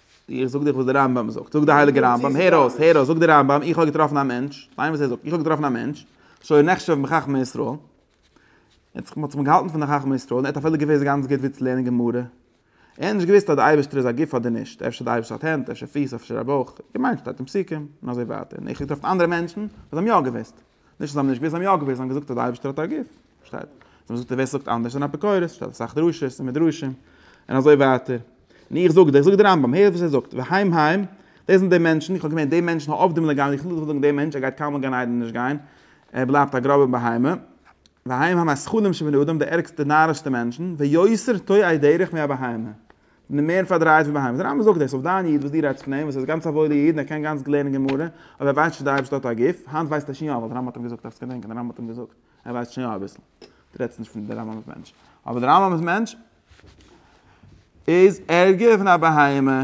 איך זאג דיך וואס דער רמב ם זאגט, זאגט דער הייליגער רמב ם, הער אויס, הער אויס, זאגט דער רמב ם, איך האב געטראפן א מענטש, ליין וואס ער זאגט, איך האב געטראפן א מענטש, שהיה נחשב מחכמי ישראל, ער האט זיך געהאלטן פון די חכמי ישראל, ער האט אפילו געוואוסט גאנץ גוט וואו צו לערנען גמרא, ער האט נישט געוואוסט אז דער אייבערשטער איז א גוף אדער נישט, אפשר דער אייבערשטער האט הענט, אפשר פיס, אפשר א בויך, געמיינט שטייט אין פסוקים, און אזוי ווייטער, און איך האב געטראפן אנדערע מענטשן וואס האבן יא געוואוסט. נישט אז זיי האבן נישט געוואוסט, זיי האבן יא געוואוסט, זיי האבן געזאגט אז דער אייבערשטער האט א גוף, פארשטייט זיך. זיי האבן געזאגט אז ווער ס'זאגט אנדערש איז אן אפיקורס, ס'שטייט אסאך דרשות און מדרשים, און אזוי ווייטער. און איך זאג דיר, זאגט דער רמב ם, הער וואס ער זאגט, והיים היים, דאס זענען די מענטשן, איך האב געמיינט די מענטשן העובדים לגמרי, איך וויל נישט זאגן די מענטש, ער גייט קיינמאל גיין איידער נישט גיין, ער בלייבט א גראבע בהמה, והיים היים הזחולים שבני אדם, די ערגסטע נארישסטע מענטשן, ויותר תועי דרך מהבהמה, די מער פארדרייט פון בהמות. די רמב ם זאגט דאס אויף דיין איד וואס דו רעדסט פון אים, וואס איז גאנץ א וואוילע איד און ער קען גאנץ גוט לערנען גמרא, אבער ער ווייסט נישט אז די אייבערשטער האט א גוף, היינט ווייסט ער שוין יא, ווייל די רמב ם האט אים געזאגט, דארפסט געדענקען די רמב ם האט אים געזאגט, ער ווייסט שוין יא אביסל. דו רעדסט נישט פון די רמב ם'ס מענטש. אבער די רמב ם'ס מענטש איז ערגער פון א בהמה.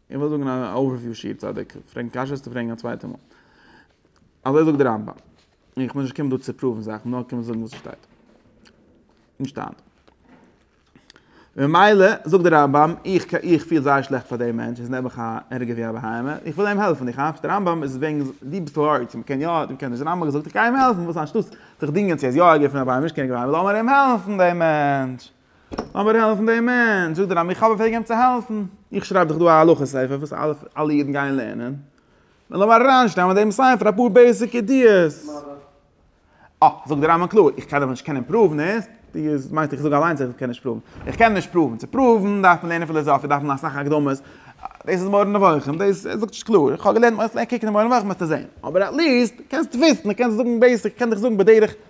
איך וויל זאגן א אווערוויו שיעור צדיק פרעגן קשיות טו פרעגן א צווייטע מאל אזוי זאגט די רמב ם און איך מוז נישט קומען דא צו פראוון זאכן נאר קומען זאגן וואס ס'שטייט אין שטאנד ממילא זאגט די רמב ם איך איך פיל זייער שלעכט פאר דעם מענטש איז נעבעך א ערגער ווי א בהמה איך וויל אים העלפן איך כאפסט די רמב ם איז וועגן די ביסט הארץ מען קען יא מען קען נישט די רמב ם האט געזאגט איך גיי אים העלפן וואס אנשטאטס זיך דינגען צו ער איז יא ערגער פון א בהמה נישט קען איך ווייל איך וויל אמער אים העלפן דעם מענטש. לאמיר העלפן דעם מענטש, זאגט דער רבי, איך האב אויף וועגן אים צו העלפן, איך שרייב דאך דא א הלכה ספר וואס אלע אידן גייען לערנען, נו לאמיר אריינשטעלן אין דעם ספר אפאר בעיסיק ידיעות. אה, זאגט דער רבי קלאר, איך דארף נישט קענען פראוון עס, דו מיינסט איך זאג אליינס אז איך קען נישט פראוון, איך קען נישט פראוון, צו פראוון דארף מען לערנען פילאזאפיע, דארף מען אסאך הקדמות, דאס איז מורה נבוכים, דאס ער זאגט נישט קלאר, איך האב געלערנט, קוק אין מורה נבוכים וועסטו זען, אבער עטליעסט קענסט וויסן, קענסט זאגן בעיסיק, איך קען דיך זאגן בדרך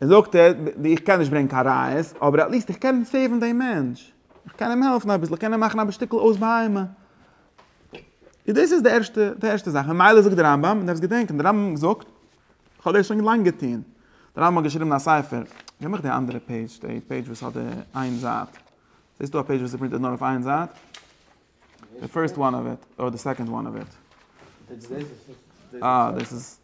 ער זאגט ער, איך קען נישט ברענגן קיין ראיות, אבער עטליעסט איך קען סעיוון דעם מענטש, איך קען אים העלפן אביסל, איך קען אים מאכן א שטיקל אויס בהמה. און דאס איז די ערשטע די ערשטע זאך, ממילא זאגט דער רמב ם, מען דארף עס געדענקען, דער רמב ם זאגט, איך האב דאס שוין לאנג געטון, דער רמב ם האט געשריבן א ספר, געב מיך די אנדערע פעידזש, די פעידזש וואס האט די איין זייט, זעסטו א פעידזש וואס איז פרינטעד נאר אויף איין זייט? די פירסט וואן אוו איט, אדער די סעקאנד וואן אוו איט? אה דאס איז.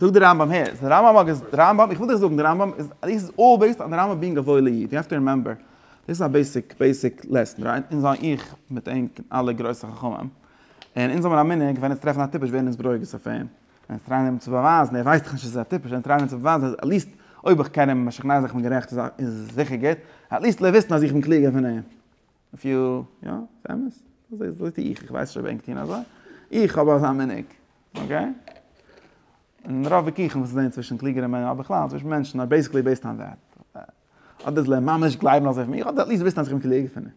זאגט דער רמב ם הער, דער רמב ם איז, דער רמב ם, איך וויל דיך זאגן, דער רמב ם איז, דיס איז אלל בעיסד אן דער רמב ם בינג א וואוילע איד, יו העוו טו רימעמבער, דאס איז א בעיסיק, בעיסיק לעסן, רייט? אונז זיין איך מיט ענק און אלע גרויסע חכמים, און אונז האבן א מנהג ווען אונז טרעפן א טיפש ווערן אונז ברוגז אויף אים, און אונז טרייען אים צו באווייזן, ער ווייסט דאך נישט אז עס איז א טיפש, אונז טרייען אים צו באווייזן אז עטליעסט אויב איך קען אים, משכנע זיך איך בין גערעכט, איז זיכער גוט, עטליעסט זאל ער וויסן אז איך בין קלוגער פון אים. אויף יו, יא, ס'אמת. אזוי טו איך, איך ווייס שוין וועגן טון אזוי. איך האב אזא מנהג. אקעי? און רוב וויכוחים וואס זענען צווישן קלוגערע מענ, אדער בכלל צווישן מענטשן אר בעיסיקלי בעיסד אן דעט. אדער זיי ממש גלייבן אזוי פון מיר, אדער עטליעסט וויסן אז איך בין קלוגער פון אים.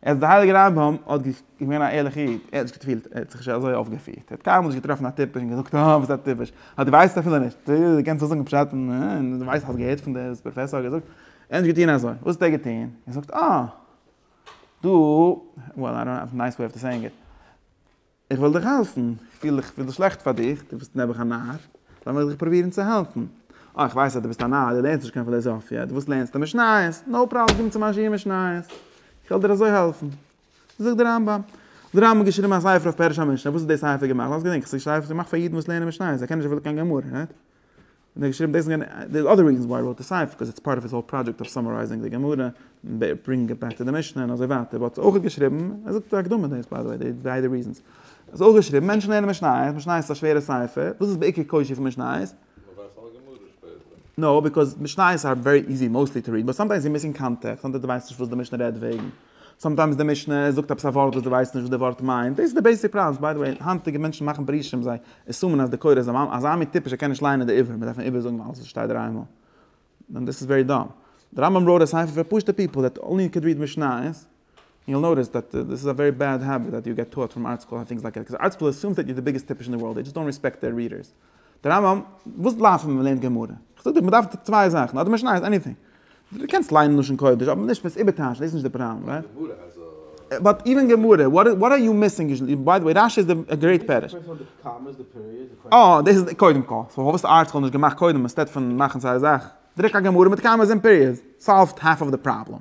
עס דער הייליגער רמב ם האט געווען א ערליכע איד, ער האט נישט געפילט, ער האט זיך נישט אזוי אויפגעפירט. ער האט קיינמאל נישט געטראפן א טיפש און געזאגט, אה, וואס א טיפש. אה, דו ווייסט אפילו נישט. דו קענסט אויסזאגן פשט און דו ווייסט, האסט געהערט פון דער פראפעסאר האט געזאגט. ענדע געטון אזוי, וואס האט ער געטון? ער זאגט אה! דו, וועל איי דאנט האוו א נייס וועי טו סעיאינג איט, איך וועל דיך העלפן, איך פיל דאס שלעכט פאר דיך, דו ביסט נעבעך א נאר, לאמיך דיך פרובירן צו העלפן, אה איך ווייס אז דו ביסט א נאר, דו לערנסט נישט קיין פילאזאפיע, דו ווילסט לערנסט די משניות, נאו פראבלעם קום צו מיין שיעור משניות, איך וועל דיר אזוי העלפן. זאגט דער רמב ם, דער רמב ם האט געשריבן א ספר אויף פירוש המשנה, וואס איז די ספר געמאכט? לאמיר געדענקען, ס'איז א ספר געמאכט פאר אידן וואס לערנען משניות, זיי קענען נישט וויל קיין גמרא, ריט? און ער האט געשריבן דאס און יענע, דער אדער ריזען וויי איי ראוט די ספר ביקאוז איטס פארט אוו היז האול פראדזשעקט אוו סאמערייזינג די גמרא און ברענגינג איט בעק טו די משנה און אזוי ווייטער וואלט אויך געשריבן, ער זאגט אין די הקדמה דאס ביי די וועי די ביידע ריזענס האט אויך געשריבן, מענטשן לערנען משניות, משניות איז א שווערע ספר, וואס איז בעיקר קושיא פון משניות? נאו, ביקאוז משניות אר ווערי איזי מאוסטלי טו ריעד באט סאמטיימס יו מיסינג קאנטעקסט, סאמטיימס דו ווייסט נישט וואס די משנה רעדט וועגן. סאמטיימס די משנה זאגט עפעס א ווארט וואס דו ווייסט נישט וואס די ווארט מיינט, דאס איז די בעיסיק פראנס, ביי די וועי היינטיגע מענטשן מאכן פירושים זיי עסומען אז די קורא איז אזא מין טיפש ער קען נישט ליינען די עברי, מ'דארף אים איבערזאגן אלעס וואס שטייט דער איינמאל, דען דאס איז ווערי דאם, די רמב ם ראוט א ספר פאר פשוטע פיפל דעט אנלי קען ריעד משניות, ענד יו וויל נאוטיס דעט דאס איז א ווערי בעד העביט דעט יו געט טאוט פרום ארטסקרול ענד טינגס לייק דעט, קאוז ארטסקרול עסומס דעט יו די ביגעסט טיפש אין די ווארלד, דעי דזשאסט דאנט רעספעקט דער ריעדערס. די רמב ם, וואס בלייבט ווען מען לערנט גמרא? איך זאג דיר מען דארף צוויי זאכן, אדער משניות, עניטינג. דו קענסט ליינען לשון קודש, אבער נישט וועסט איבערטייטשן, דאס איז נישט די פראבלעם, רייט? באט איווען גמרא, וואט וואט אר יו מיסינג יוזשעלי, ביי די וועי רשי איז א גרעיט פירוש. אה, דאס איז קודם כל, סאו האסט ארטיקל נישט געמאכט קודם, אינסטעד פון מאכן סארא זאך, דרוק א גמרא מיט קאמעס און פיריעדס, סאלווט האלף אוו די פראבלעם.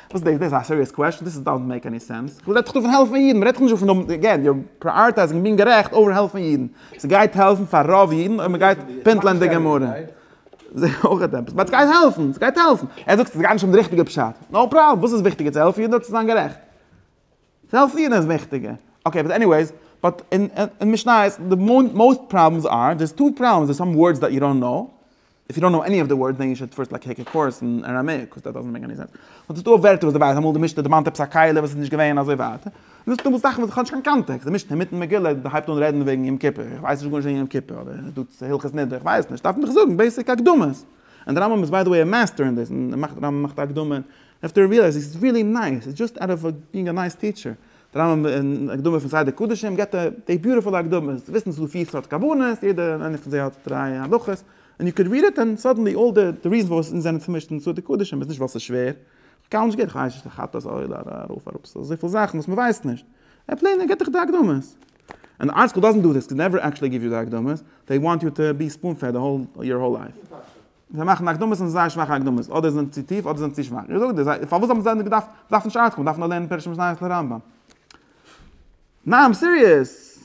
וואס איז דאס? דאס איז א סיריעס קוועסטשן? דאס דאזענט מעיק עני סענס. וואס רעדט זיך דא פון העלפן אידן? מען רעדט דאך נישט דא פון דעם, אגעין, יו אר פריאריטייזינג און בינג גערעכט אווער העלפן אידן. ס'גייט העלפן פאר רוב אידן אויב מען גייט פינטלען די גמרא. זע אויך עפעס. באט ס'גייט העלפן! ס'גייט העלפן! ער זאגט ס'גייט נישט אום די ריכטיגע פשט. נאו פראבלעם. וואס איז וויכטיגער? צו העלפן אידן אדער צו זיין גערעכט? צו העלפן אידן איז וויכטיגער. אקעי, באט עניוועיס. באט אין משניות די מאוסט פראבלעמס אר, דער'ס טו פראבלעמס, דער'ס סאם ווארדס דעט יו דאנט נאו. איף יו דאנט קנאו עני אוו די ווארדס דען יו שוד פירסט טעיק א קורס אין אראמעיק קאוז דעט דאזענט מעיק עני סענס. אבער ס'איז דא ווערטער וואס דו ווייסט אמאל די משתה דערמאנט עפעס א קהלה וואס איז נישט געווען אזוי ווייטער. און דאס איז אמאל זאכן וואס איך האב נישט קיין קאנטעקסט. די משנה אינמיטן מגילה הייבט אן רעדן וועגן יום כיפור. איך ווייס נישט גארנישט וועגן יום כיפור אדער איז דא צו הלכות נדרי כ'ווייס נישט. דארפן זיך זאגן בעיסיק הקדמות. און דער רמב ם איז ביי די וועי א מעסטער אין דאס. און דער רמב ם מאכט א הקדמה און עפטער ריעלייז איז ריעלי נייס. איז דזשאסט אוט אוו בינג א נייס טיטשער. דער רמב ם אין הקדמה פון סדר קדשים געבט ער די ביוטיפולע הקדמות, צו וויסן ס'איז דא פיר סארט כוונות, יעדע איינע פון זיי האט דריי הלכות, און יו קען ריעד איט און סאדענלי אלל די ריזענס פארוואס אונז זענען צומישט אין סדר קדשים איז נישט ווייל ס'איז שווער, כ'קאונט נישט גערעכט, כ'ווייס נישט די חטאת אויל אר ארויף אראפ, ס'איז אזויפיל זאכן וואס מ'ווייסט נישט, ער פלעין ער געבט דיך די הקדמות. אן די ארטיקל דאזענט דו דיס, ס'קען נעווער עקטשעלי גיוו יו די הקדמות, זיי וואנט יו טו בי ספאון פעד די האול יור האול לייף. זיי מאכן הקדמות און זייער שוואכע הקדמות, אדער זענען צו טיף אדער זענען צו שוואך. איך זאג דיר, זיי, פארוואס האבן זיי דען געדארפט, מען דארף נישט ארטקומען, מען דארף נאר לערנען פרשת משניות און רמב ם. ניין איים סיריעס!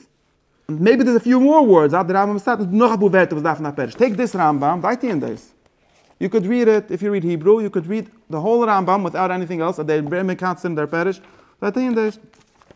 מעיבי דער'ס א פיו מאר ווארדס אט די רמב ם סייט און נאך אפאר ווערטער וואס דארפן א פירוש, טעיק דיס רמב ם, זיי טוען דאס. יו קען ריעד איט, איף יו ריעד היברו, יו קען ריעד די האול רמב ם וויטאוט עניטינג עלס, אט דער רמב ם מקצר און דער פירוש, זיי טוען דאס.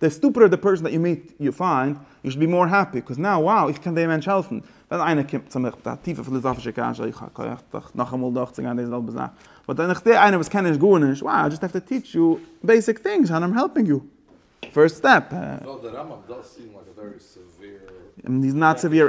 די סטופידער די פערסאן דעט יו מיט יו פיינד, יו שוד בי מאר העפי, קאז נאו wow איך קען דעם מענטש העלפן. ווען איינער קומט צו מיך מיט א טיפע פיליזאפישע קשיא, איך האב כח דאך נאכאמאל דורכצוגיין די זעלבע זאך. באט ווען איך זע איינער וואס קען נישט גארנישט, wow איי דזשאסט העוו טו טיטש יו בעיסיק טינגס אנד איים העלפינג יו. פירסט סטעפ. איז נאט סעוועיר.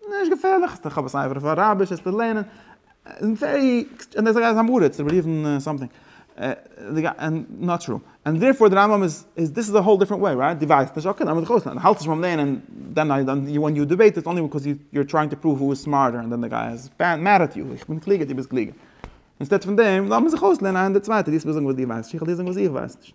נישט געפערליך, איך האב עס אייוועלט אויף אראביש עס צו לערנען, און ווערי עקסט, און דער גייסט איז א מרה צו בארירן סאמטינג, און נאט טרו, און דערפאר די רמב ם איז, איז דיס איז א האול דיפרענט וועי, רייט? דו ווייסט נישט, אקעי לאמיר זיך אויסלערנען, דו האלטסט נישט ביים לערנען, דען איי דאנט, ווען יו דיבעיט איטס אנלי ביקאוז יו אר טרייענג טו פראוו הו איז סמארטער, און דען די גיי איז מעד עט יו, איך בין קלוגער, דו ביסט קלוגער. אינסטעד פון דעם, לאמיר זיך אויסלערנען איינער די צווייטער, דו זאלסט מיר זאגן וואס דו ווייסט נישט, איך וועל דיר זאגן וואס איך ווייס נישט.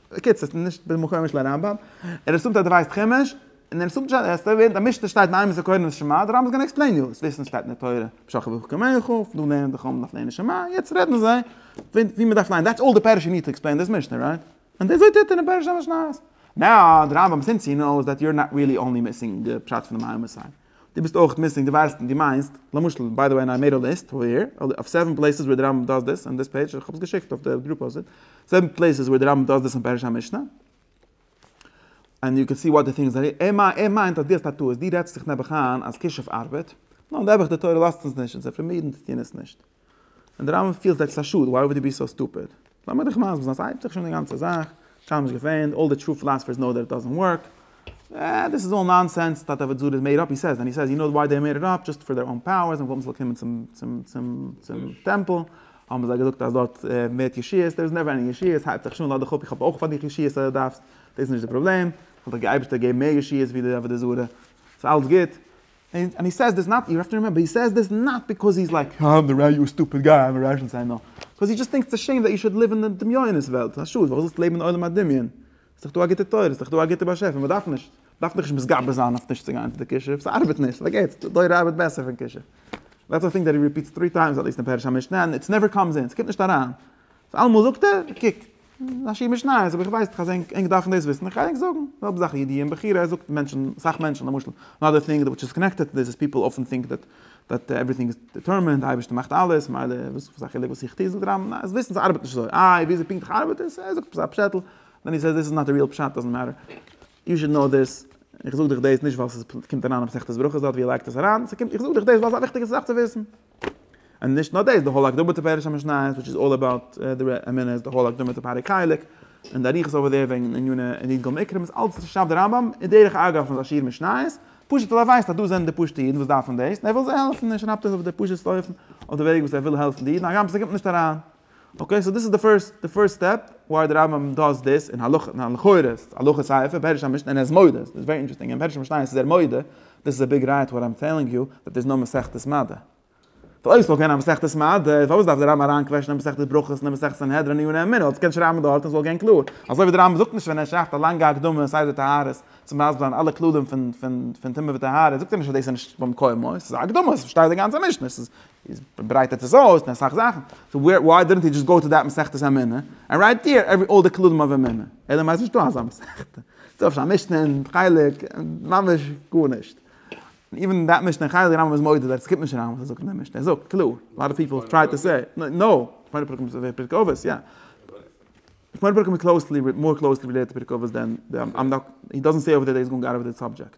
בקיצור, ס'איז נישט בין מקום משל הרמבם, ער אסומט אז דו ווייסט חומש, און ער אסומט נישט אז עס טאר ווערן אז משנה שטייט מאי מס' קורן ושמע, דער רמב ם איז געווען עקספלעין יו, עס וויסן שטייט אין די תורה, משא כ ואכא כמיך, דא לערנען די חמ ד אויף לערנען שמע, יעצט רעדן זיי ווי מען דארף ליינען, דעטס אלל די פערש יו ניד טו עקספלעין דיס משנה, רייט? און די אזוי טוט ער אין פרשת המשניות. נאו, דער רמב ם סינס הי נאוס דעט יו אר נאט ריעלי אנלי מיסינג די פשט פון די מאי מס'. דו ביסט אויך מיסינג, דו ווייסט און דו מיינסט, למשל, ביי די וועי איי מעיד א ליסט אווער היער, אויף סעווען פלעיסעס ווער די רמב ם דאס דאס אן דיס פעידזש, איך האב עס געשיקט אויף די גרופע אויסער, סעווען פלעיסעס ווער די רמב ם דאס דאס און פירוש המשנה, ענד יו קען סי וואט די טינג איז, ער מיינט אז דו האסט א טעות, דו רעדסט זיך נעבעך איין אז כישוף ארבעט, נו, נעבעך די תורה לאזט אונז נישט, און זיי פארמירן די טענות נישט. און די רמב ם פילט עטס א שאד וויי וואלד י בי סאו סטופיד. לאמיר דיך מסביר זיין, ס'הייבט זיך שוין די גאנצע זאך, קיינמאל נישט געפענט, אלל די טרו פילאספערס נאו דעט איט דאזענט ווארק, אה, דעס איז אלל נאנסענס, טאטע וואס דזאד איז מעיד אפ, הי סעיז, ענד הי סעיז, יו נאו וויי דעי מעיד איט אפ, דזשאסט פאר דעיר אן פאוערס, און וואלט מען זאל קומען צום טעמפל, האבן זיי געזאגט אז דארט ווערט ישועות, דער איז נעווער ענדיג ישועות, הייבט זיך שוין, לאד דיך אפ, איך האב אויך פאר דיך ישועות אז דו דארפסט, דאס איז נישט די פראבלעם, זאל דיך די אייבערשטער געבן מער ישועות ווי די עבודה זרה, ס'איז אלס גוט. און הי סעיז דיס נאט, יו האוו טו רימעמבער, הי סעיז דיס נאט ביקאוז הי איז לייק, אה, די רבי, יו א סטופיד גיי, אייווער רייש און סיי, נאר, ביקאוז הי דזשאסט טינקס איטס א שעים דעט יו שוד ליוו אין די דמיונות וועלט, ס'איז א שאד, פארוואס זאלסטו לעבן אין עולם הדמיון? ס'איז דאך דא א גוטע תורה, ס'איז דאך דא א גוטע באשעפער, מ'דארף נישט, מ'דארף דיך נישט מתגבר זיין אויף נישט צו גיין צו די כישוף, ס'ארבעט נישט, פארגעטס, די תורה ארבעט בעסער פון כישוף. דעטס א טינג דעט הי ריפיטס טרי טיימס, עטליעסט אין פרש המשנה, און איטס נעווער קאמס אין, ס'קומט נישט אריין. אלעמאל זאגט ער, קוק, ס'איז א שיעור משניות, אבער איך ווייס דאך אז ענק דארפן דאס וויסן, איך גיי ענק זאגן. זעלבע זאך אידיע און בחירה, ער זאגט מענטשן, אסאך מענטשן למשל, אנאדער טינג וויטש איז קאנעקטעד טו דיס איז פיפל אפען טינק דעט דעט עווריטינג איז דיטערמענד, די אייבערשטער מאכט אלעס, מילא וואס איז א חילוק וואס איך טו, זאגט דער רמב ם, זיי וויסן ס'ארבעט נישט אזוי, איי וויאזוי פונקטליך ארבעט עס, ער זאגט עפעס א פשעטל, דען הי סעיס דיס איז נאט די ריעל פשט, דאזענט מעטער, יו שוד קנאו דיס, איך זאג דיך דאס נישט ווייל ס'קומט אריין אין מסכת ברכות דארט ווי ער לייגט עס אריין, איך זאג דיך דאס ווייל ס'איז א וויכטיגע זאך צו וויסן. און נישט נאר דאס, די הל' הקדמה צו פירוש המשניות וויטש איז אלל אבאוט די אמונות, די הל' הקדמה צו פרק חלק, און די אריכות אויף דער וועגן עניני ענית גמ' עיקרים איז אלץ וואס עס שרייבט דער רמב ם איז דרך אגב פון זיין שיעור משניות, פשוט ווייל ער ווייסט אז דאס זענען די פשוטע אידן וואס דארפן דאס און ער וויל זיי העלפן און ער שרייבט עס אויף די פשוט'סטע אופן אויף די וועג וואס ער וויל העלפן די אידן הגם ס'קומט נישט אריין אקעי סאו דאס איז די פירסט די פירסט סטעפ וויי די רמב ם דאס דאס אין הלכה ניין לכאורה איז עס הלכה סייעפע פירוש המשנה אין ער איז מודה דאס איז ווערי אינטערעסטינג אין פירוש המשנה איז ער מודה דאס איז א ביג ראיה טו וואט איים טעלינג יו דאט איז נאר מסכת מדה ווייל אויב עס וואלט געווען א מסכת מדה פארוואס דארף די רמב ם אריין קוועשענען אין מסכת ברכות און אין מסכת סנהדרין און יונה אמינה אלס קען שרייבן דארט און עס זאל גיין קלאר אזוי ווי די רמב ם זאגט נישט ווען ער שרייבט א לאנגע הקדמה סדר טהרות צו מסביר זיין אלע כללים פון פון פון טומאה וטהרה זאגט ער נישט אז דאס איז נישט במקומו עס איז א הקדמה עס שטייט די גאנצע משנה עס איז איז ברייטערט עס אויס מיט אסאך זאכן, סאו וואי דידנט הי דזשאסט גאו טו דעט מסכת האמונה ענד רייט דיר עווער אלל די כללים אויף אמונה, אלא מאי ס'איז נישטא אזא מסכת, ס'איז אפשר א משנה און חלק, ממש גארנישט, איווען דעט משנה און חלק די רמב ם איז מודה דאס קומט נישט אריין וואס ער זאגט אין די משנה, ער זאגט קלאר, אלאט אוו פיפל טריי טו סעי נאו, שמונה פרקים איז אזוי פרק אבות יא, שמונה פרקים איז קלאוסלי, מאר קלאוסלי רילעיטעד טו פרק אבות דען, איים נאט, הי דאזענט סעי אויווער דער דעי איז גאונג אוט אוו די סאבדזשעקט.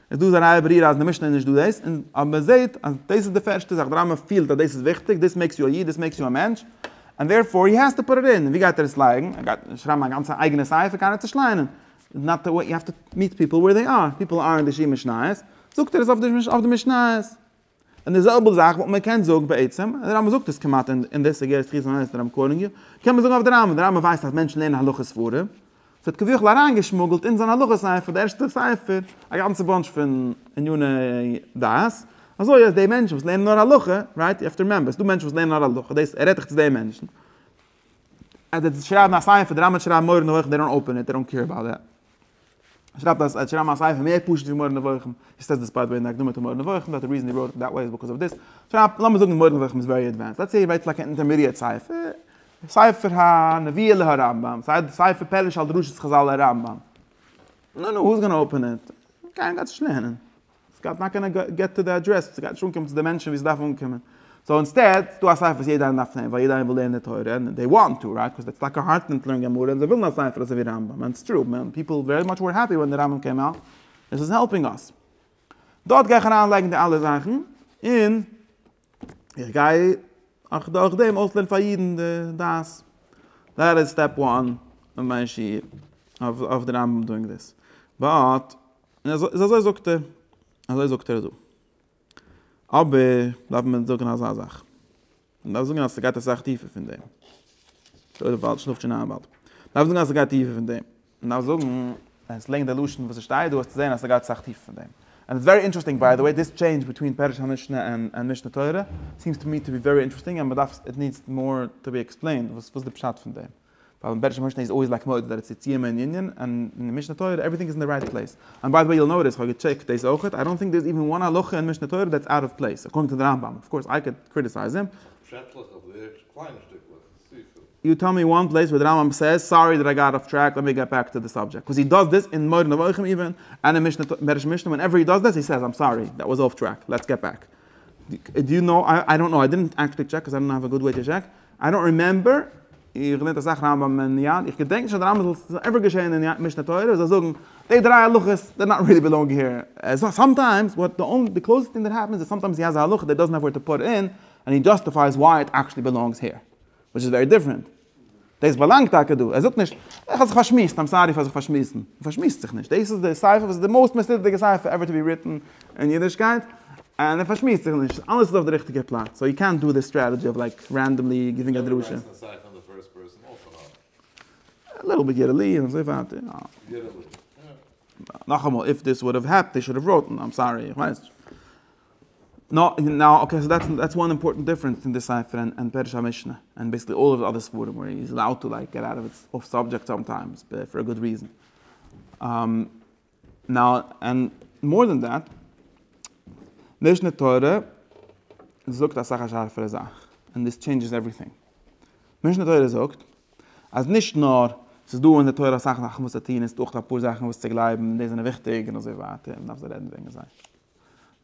איז דא אזא נייע ברירה אז אין די משנה איז נישט דא דאס, און אז מען זעט אז דאס איז די פערשטע זאך, דער רמב ם פילט אז דאס איז וויכטיג, דאס מעיקס יו א איד, דאס מעיקס יו א מענטש, ענד דערפאר הי העז טו פוט איט אין, און ווי גייט ער עס לייגן? ער גייט שרייבן א גאנצע אייגענע ספר? קיינער האט עס נישט ליינען, איז נאט די וועי, יו העוו טו מיט פיפל וועיר זיי אר, פיפל ארענט די ש י משניות, זאגט ער עס אויף די משניות. און די זעלבע זאך וואלט מען געקענט זאגן בעצם, די רמב ם זאגט עס כמעט אין די סוגיות תחיית המתים און רמ קרן ג, קען מען זאגן אויף די רמב ם, די רמב ם ווייסט אז מענטשן לערנען הלכות ספרים, ס'האט כביכול אריינגעשמוגלט אין זיין הלכות ספר, די ערשטע ספר, א גאנצע באנטש פון עניני דת, אזוי אז די מענטשן וואס לערנען נאר הלכה, רייט, יו העוו טו רימעמבער, ס'דא מענטשן וואס לערנען נאר הלכה, דאס ער רעדט דאך צו די מענטשן, אז די זאלסט שרייבן א ספר, די רמב ם האט שרייבן מורה נבוכים, דעי דאנט אפען איט, דעי דאנט קעיר אבאוט דעט. ער שרייבט אז ער האט געשריבן א ספר מער פשוט ווי מורה נבוכים, איז סטעס דיספייט ווען די הקדמה צו מורה נבוכים דארט די ריזען הי ראוט איט דעט וועי איז ביקאוז אוו דיס, שרייבט לאמיר זאגן מורה נבוכים איז ווערי עדווענסד, לעטס סעי ער ווייסט לייק אן אינטערמידיעט ספר, ספר הנביאה להרמבם, סיי די ספר פירוש על דרשות חזל להרמבם, נו נו הו איז גאנא אפען איט, גיין דארט נישט לערנען. סגייט נאר קענען געט טו די אדרעס וואס סגייט נישט אנקומען צו די מענטשן ווי סדארף אנקומען, סאו אינסטעד איז דא א ספר וואס יעדער איינער דארף נעמען ווייל יעדער איינער וויל לערנען תורה און דעי וואנט טו רייט קאוז סטאקע הארטן און טלויען גמרא און זיי ווילן א ספר אזוי ווי רמבם און סטרו מען פיפל ווערי מאטש ווער העפי ווען די רמבם קעם אוט דעס איז העלפינג אס דארט גיי איך אריין לייגן די אלע זאכן און איך גיי אויך דורך דעם אויסלערנען פאר אידן די דעת. דעט איז סטעפ וואן אויף מיין שיעור אויף די רמב ם דואינג דיס. באט איז אזוי זאגט ער, אזוי זאגט ער דא. אבער דארף מען זאגן אזא זאך. מען דארף זאגן אז ס'גייט אסאך טיפער פון דעם. דארף זאגן אז ס'גייט טיפער פון דעם. נאר זאגן און סלענג די לשון וואס ס'שטייט דא וועסטו זען אז ס'גייט סאך טיפער פון דעם. און איטס ווערי אינטערעסטינג ביי די וועי דיס טשעינדזש ביטווין פירוש המשנה און משנה תורה סיעמס טו מי טו בי ווערי אינטערעסטינג און מ'דארף איט נידס מאר טו בי עקספלעינד וואס וואס די פשט פון דעם ווייל אין פירוש המשנה איז אלוועיס לייק מעודד ארץ יציאה מעין יענין און אין משנה תורה עווריטינג איז אין די רייט פלעיס און ביי די וועי יו וויל נאוטיס כ'האב געטשעקט דאס אויך איי דאנט טינק דער איז איווען וואן הלכה אין משנה תורה דעטס אוט אוו פלעיס אקארדינג טו די רמב ם אויף קאורס איי קען קריטיסייז הים. פשעטלעך אדער קליינע שטיקלעך. יו טעל מי וואן פלעיס ווער די רמב ם סעיס, סארי דעט איי גאט אף טרעק, לעט מי געט בעק טו די סאבדזשעקט, קאוז הי דאז דיס אין מורה נבוכים איווען, עני משנה טויט, מערש משנה, ווען עווער הי דאז דיס הי סעיס איים סארי, דעט וואס אף טרעק, לעטס געט בעק, דו יו נאו, איי דאנט נאו, איי דידנט עקטשעלי טשעק קאוז איי דאנט האוו א גוד וועי טו טשעק, איי דאנט רימעמבער, איך געלערנט אסאך רמב ם אין יד, איך געדענק נישט אז די רמב ם זל ס'איז עווער געשעהן אין משנה תורה ווי זיי זאגן, די דריי הלכות די נאט ריעלי בילאנג העיר, סאמטיימס וואט די אנלי קלאוזעסט טינג דעט העפענס איז סאמטיימס הי האזע הלכה דעט דאזנט העוו ווער טו פוט אין, און הי דזשאסטיפייס וויי איט עקשלי בעלאנגס העיר. וויטש איז ווערי דיפרענט. דאס באלאנגט טאקע דא. ער זאגט נישט, איך האב זיך פארשמועסט, איים סארי פאר זיך פארשמועסן. מען פארשמועסט זיך נישט. דאס איז די ספר וואס איז די מאוסט מיסלידעדיגע ספר עווער טו בי ריטן אין אידישקייט. און ער פארשמועסט זיך נישט. אלעס איז אויף די ריכטיגע פלאץ. סאו יו קענט דא די סטרעטעדזשי אוו לייק רענדאמלי גיווינג א דרשה. ליטל ביט יערעלי און אזוי ווייטער. נאכאמאל, איף דיס וואלד האוו העפענד, זיי שוד האוו ראוטן, איים סארי, איך ווייס נישט. נאו נאו אקעי סאו דעטס דעטס וואן אימפארטענט דיפרענס פון די ספר און פירוש המשנה און בעיסיקלי אלל אוו אדער ספרים ווער איז אלאוד טו לייק געט אוט אוו איטס אףף סאבדזשעקט סאמטיימס ב פאר א גוד ריזען נאו און מאר דען דעט משנה תורה זאגט אסאך א שארפערע זאך און דאס טשעינדזשעס עווריטינג משנה תורה זאגט אז נישט נאר ס'איז דא אין די תורה אסאך זאכן וואס צו טון און ס'איז דא אויך אפאר זאכן וואס צו גלייבן און די זענען וויכטיג און אזוי ווייטער און מ'דארף זיי רעדן וועגן זיי.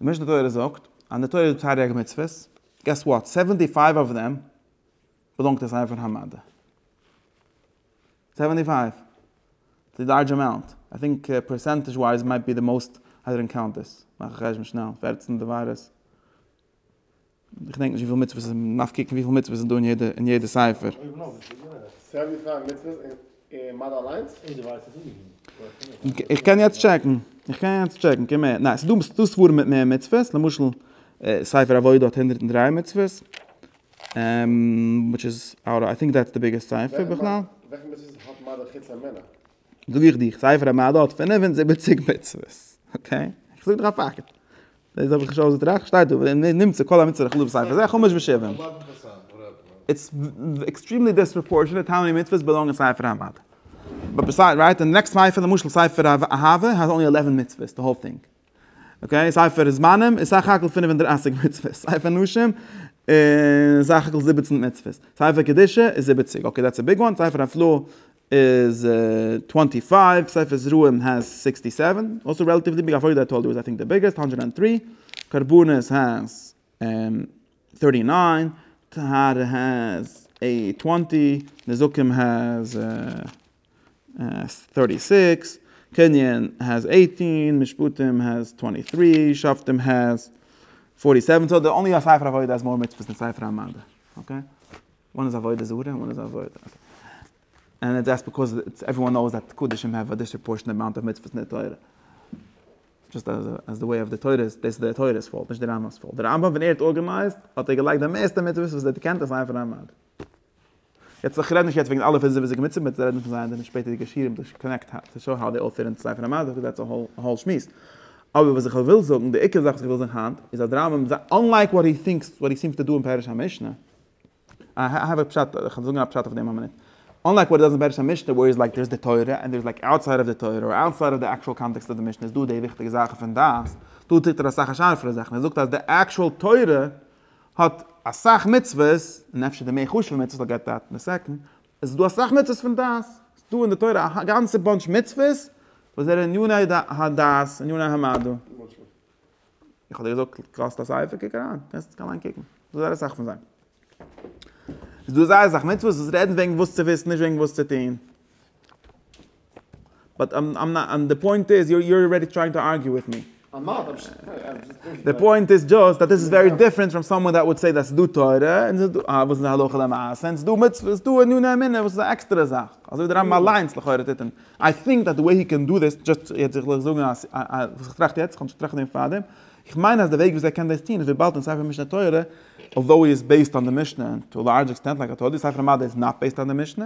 די משנה תורה זאגט אז די תורה איז תריג מצוות, געס וואט? סעווענטי פייוו אוו דעם באלאנגט עס איינער פון המדה. סעווענטי פייוו. די לארדזש אמאונט. איי טינק פערסענטעזש ווייז מייט בי די מאוסט, איי דינט קאונט דיס. מאך א חשבון שנעל. פֿערצן דברות. איך געדענק נישט וויפיל מצוות עס איז, מען דארף קוקן וויפיל מצוות עס איז דא אין יעדע ספר. איך קען יעצט טשעקן, איך קען יעצט טשעקן, קען מער, ניין, ס'איז דא ספרים מיט מער מצוות, למשל ספר עבודה האט הונדערט און דריי מצוות, וויטש איז, איי טינק דעטס די ביגעסט ספר בכלל. זאג איך דיר, ספר המדע האט פֿינף און זיבעציק מצוות, אקעי? איך זאג דיר א פאקט. דאס האב איך נישט אויסגעטראכט, שטייט דא ווען מען נמצא כל המצוה לכלול בספר זה, חומש בשבעים. איטס עקסטרימלי דיספראפארשענעט האו מעני מצוות באלאנג אין ספר המדע. באט ביסיידס, רייט, די נעקסט ספר, למשל ספר אהבה, האט אנלי עלעווען מצוות, די האול טינג. אקעי, ספר זמנים איז סך הכל פֿינף און דרײַסיק מצוות, ספר נשים איז סך הכל זיבעצן מצוות, ספר קדושה איז זיבעציק, אקעי דעטס א ביג וואן, ספר הפלאה איז טווענטי פייוו, ספר זרעים העז סיקסטי סעווען, אלסא רעלאטיוולי ביג, עבודה התורה איז איי טינק די ביגעסט, האנדרעד ענד טרי, קרבנות העז טערטי ניין, טהרה העז טווענטי, נזקים העז. טערטי סיקס, קנין העז עיטין, משפטים העז טווענטי טרי, שופטים העז פארטי סעווען, סאו די אנלי ספר עבודה העז מאר מצוות דען ספר המדע, אקעי? וואן איז עבודה זרה און וואן איז עבודה, און איטס דזשאסט ביקאוז עוועריוואן נאוס דעט קדשים העוו א דיספראפארשענעט אמאונט אוו מצוות אין די תורה, דזשאסט אז אז די וועי אוו די תורה איז, דאס איז די תורה'ס פאולט נישט די רמבם'ס פאולט, די רמבם ווען ער האט ארגענייזט האט ער געלייגט די מערסטע מצוות וואס ער האט געקענט אין ספר המדע. יעצט איך רעד נישט יעצט וועגן אלע פריזערוועטיוו מיצים ביטע רעד נישט פון זיי און דיינע שפעטערע געשירים דאס קאנעקט טו שאו האו דעי אל פיט אינטו ספר המדע דאס איז זייער צו האלט שמועס אבער וואס איך וויל זאגן די עיקר זאך וואס איך וויל זאגן היינט איז אז די רמב ם אנלייק וואט הי טינקס וואט הי סימס טו דא אין פירוש המשנה איי האוו א פשט איך וועל זאגן א פשט אויף דעם א מינוט אנלייק וואט הי דאז אין פירוש המשנה ווער איז לייק דער איז די תורה און דער איז לייק אוטסייד אוו די תורה אר אוטסייד אוו די עקשועל קאנטעקסט אוו די משנה איז דא די וויכטיגע זאכן פון דעת דא טוט ער אסאך א שארפערע זאך און ער זאגט אז די עקשועל תורה האט אסאך מצוות, און אפשר די מער חשוב'ע מצוות וויל געט דעת אין סעקנד, עס איז דא אסאך מצוות פון דעת, עס איז דא אין די תורה א גאנצע באנטש מצוות וואס זענען עניני הדעת, עניני המדע. איך האב דיר געזאגט קאסט א ספר, קוק אריין, קענסט דיך אליין קוקן, איז דא זייער אסאך פון זיי. איז דא זייער אסאך מצוות וואס רעדן וועגן וואס צו וויסן, נישט וועגן וואס צו טון. באט איים נאט און די פוינט איז יו אר ארעדי טרייענג טו ארגיו וויט מי. איים נאט איים זשאסט טרייענג. די פוינט איז דזשאסט אז דאס איז ווערי דיפרענט פראם סאמאן דעט וואלט סעיד אז ס'איז דא תורה און ס'איז דא וואס איז הלכה למעשה און ס'איז דא מצוות ס'איז דא עניני אמונה וואס איז א עקסטערע זאך אזוי ווי די רמב ם אליינס לכאורה טוט און איי טינק דעט די וועי הי קען דא דעס דזשאסט יעצט זיך זיך זאגן אז וואס איך טראכט יעצט כ'האב נישט געטראכט דעם פארדעם איך מיין אז די וועג וויאזוי ער קען דעס טון איז וויבאלד אין ספר משנה תורה אלדאו הי איז בעיסד אן די משנה און טו א לארדזש עקסטענט לייק א תוס' ספר מדע איז נאט בעיסד אן די משנה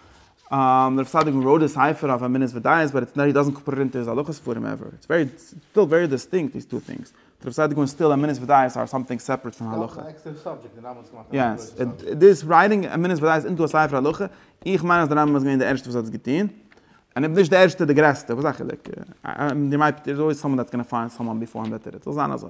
דער צדיק מ ראוד איז סייפער אויף אמונות ודעות באט איטס נאט הי דאזענט קאפערעט אינטו היז הלכות ספרים עווער איטס ווערי סטיל ווערי דיסטינקט דיס טו טינגס ט רב צדיק און סטיל אמונות ודעות אר סאמטינג סעפערעט פון הלכה יעס דיס רייטינג אמונות ודעות אינטו א ספר הלכה איך מיין אז דער רמב ם איז געווען דער ערשטער וואס האט עס געטון און אויב נישט דער ערשטער דער גרעסטער וואס איז א חילוק דער מייפ ט איז אלוועיס סאמאן דעטס גאנא פיינד סאמאן ביפאר הים בעטער איט זאל זיין אזוי.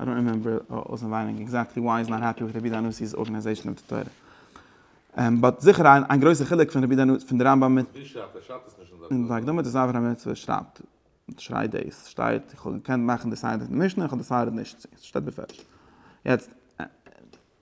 I don't remember אויסענווייניג עקזעקטלי וויי איז נאט העפי וויט רבי דאנוסי'ס ארגענעזעישאן אוו די תורה. באט זיכער איין גרויסע חילוק פון רבי דאנוס פון די רמב ם מיט. ווי שרייבט ער? שרייבט עס נישט אין זיין תגובה. אין זיין הקדמה צו זיין אברהם מצוה שרייבט שרייט דאס שטייט איך האב געקענט מאכן די סדר אין די משנה איך האב דעסיידעד נישט צו עס שטייט בפירוש יעצט.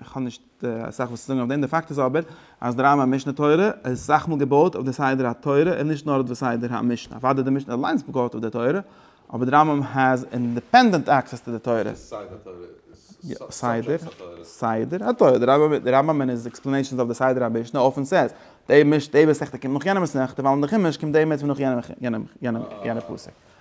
איך האב נישט אסאך וואס צו זאגן אויף דעם, די פאקט איז אבער אז די רמב ם משנה תורה איז אסאך מאל געבויט אויף די סדר התורה און נישט נאר אויף די סדר המשנה, אוודאי די משנה אליינס איז געבויט אויף די תורה, אבער די רמב ם העז אינדיפענדענט עקסעס טו די תורה. סדר התורה, די רמב ם און היז עקספלענעישאנס אויף די סדר המשנה אויפן סעז, די מסכתא קומט נאך יענע מסכתא ווייל אין די חומש קומט די עמוד פון נאך יענע פסוק.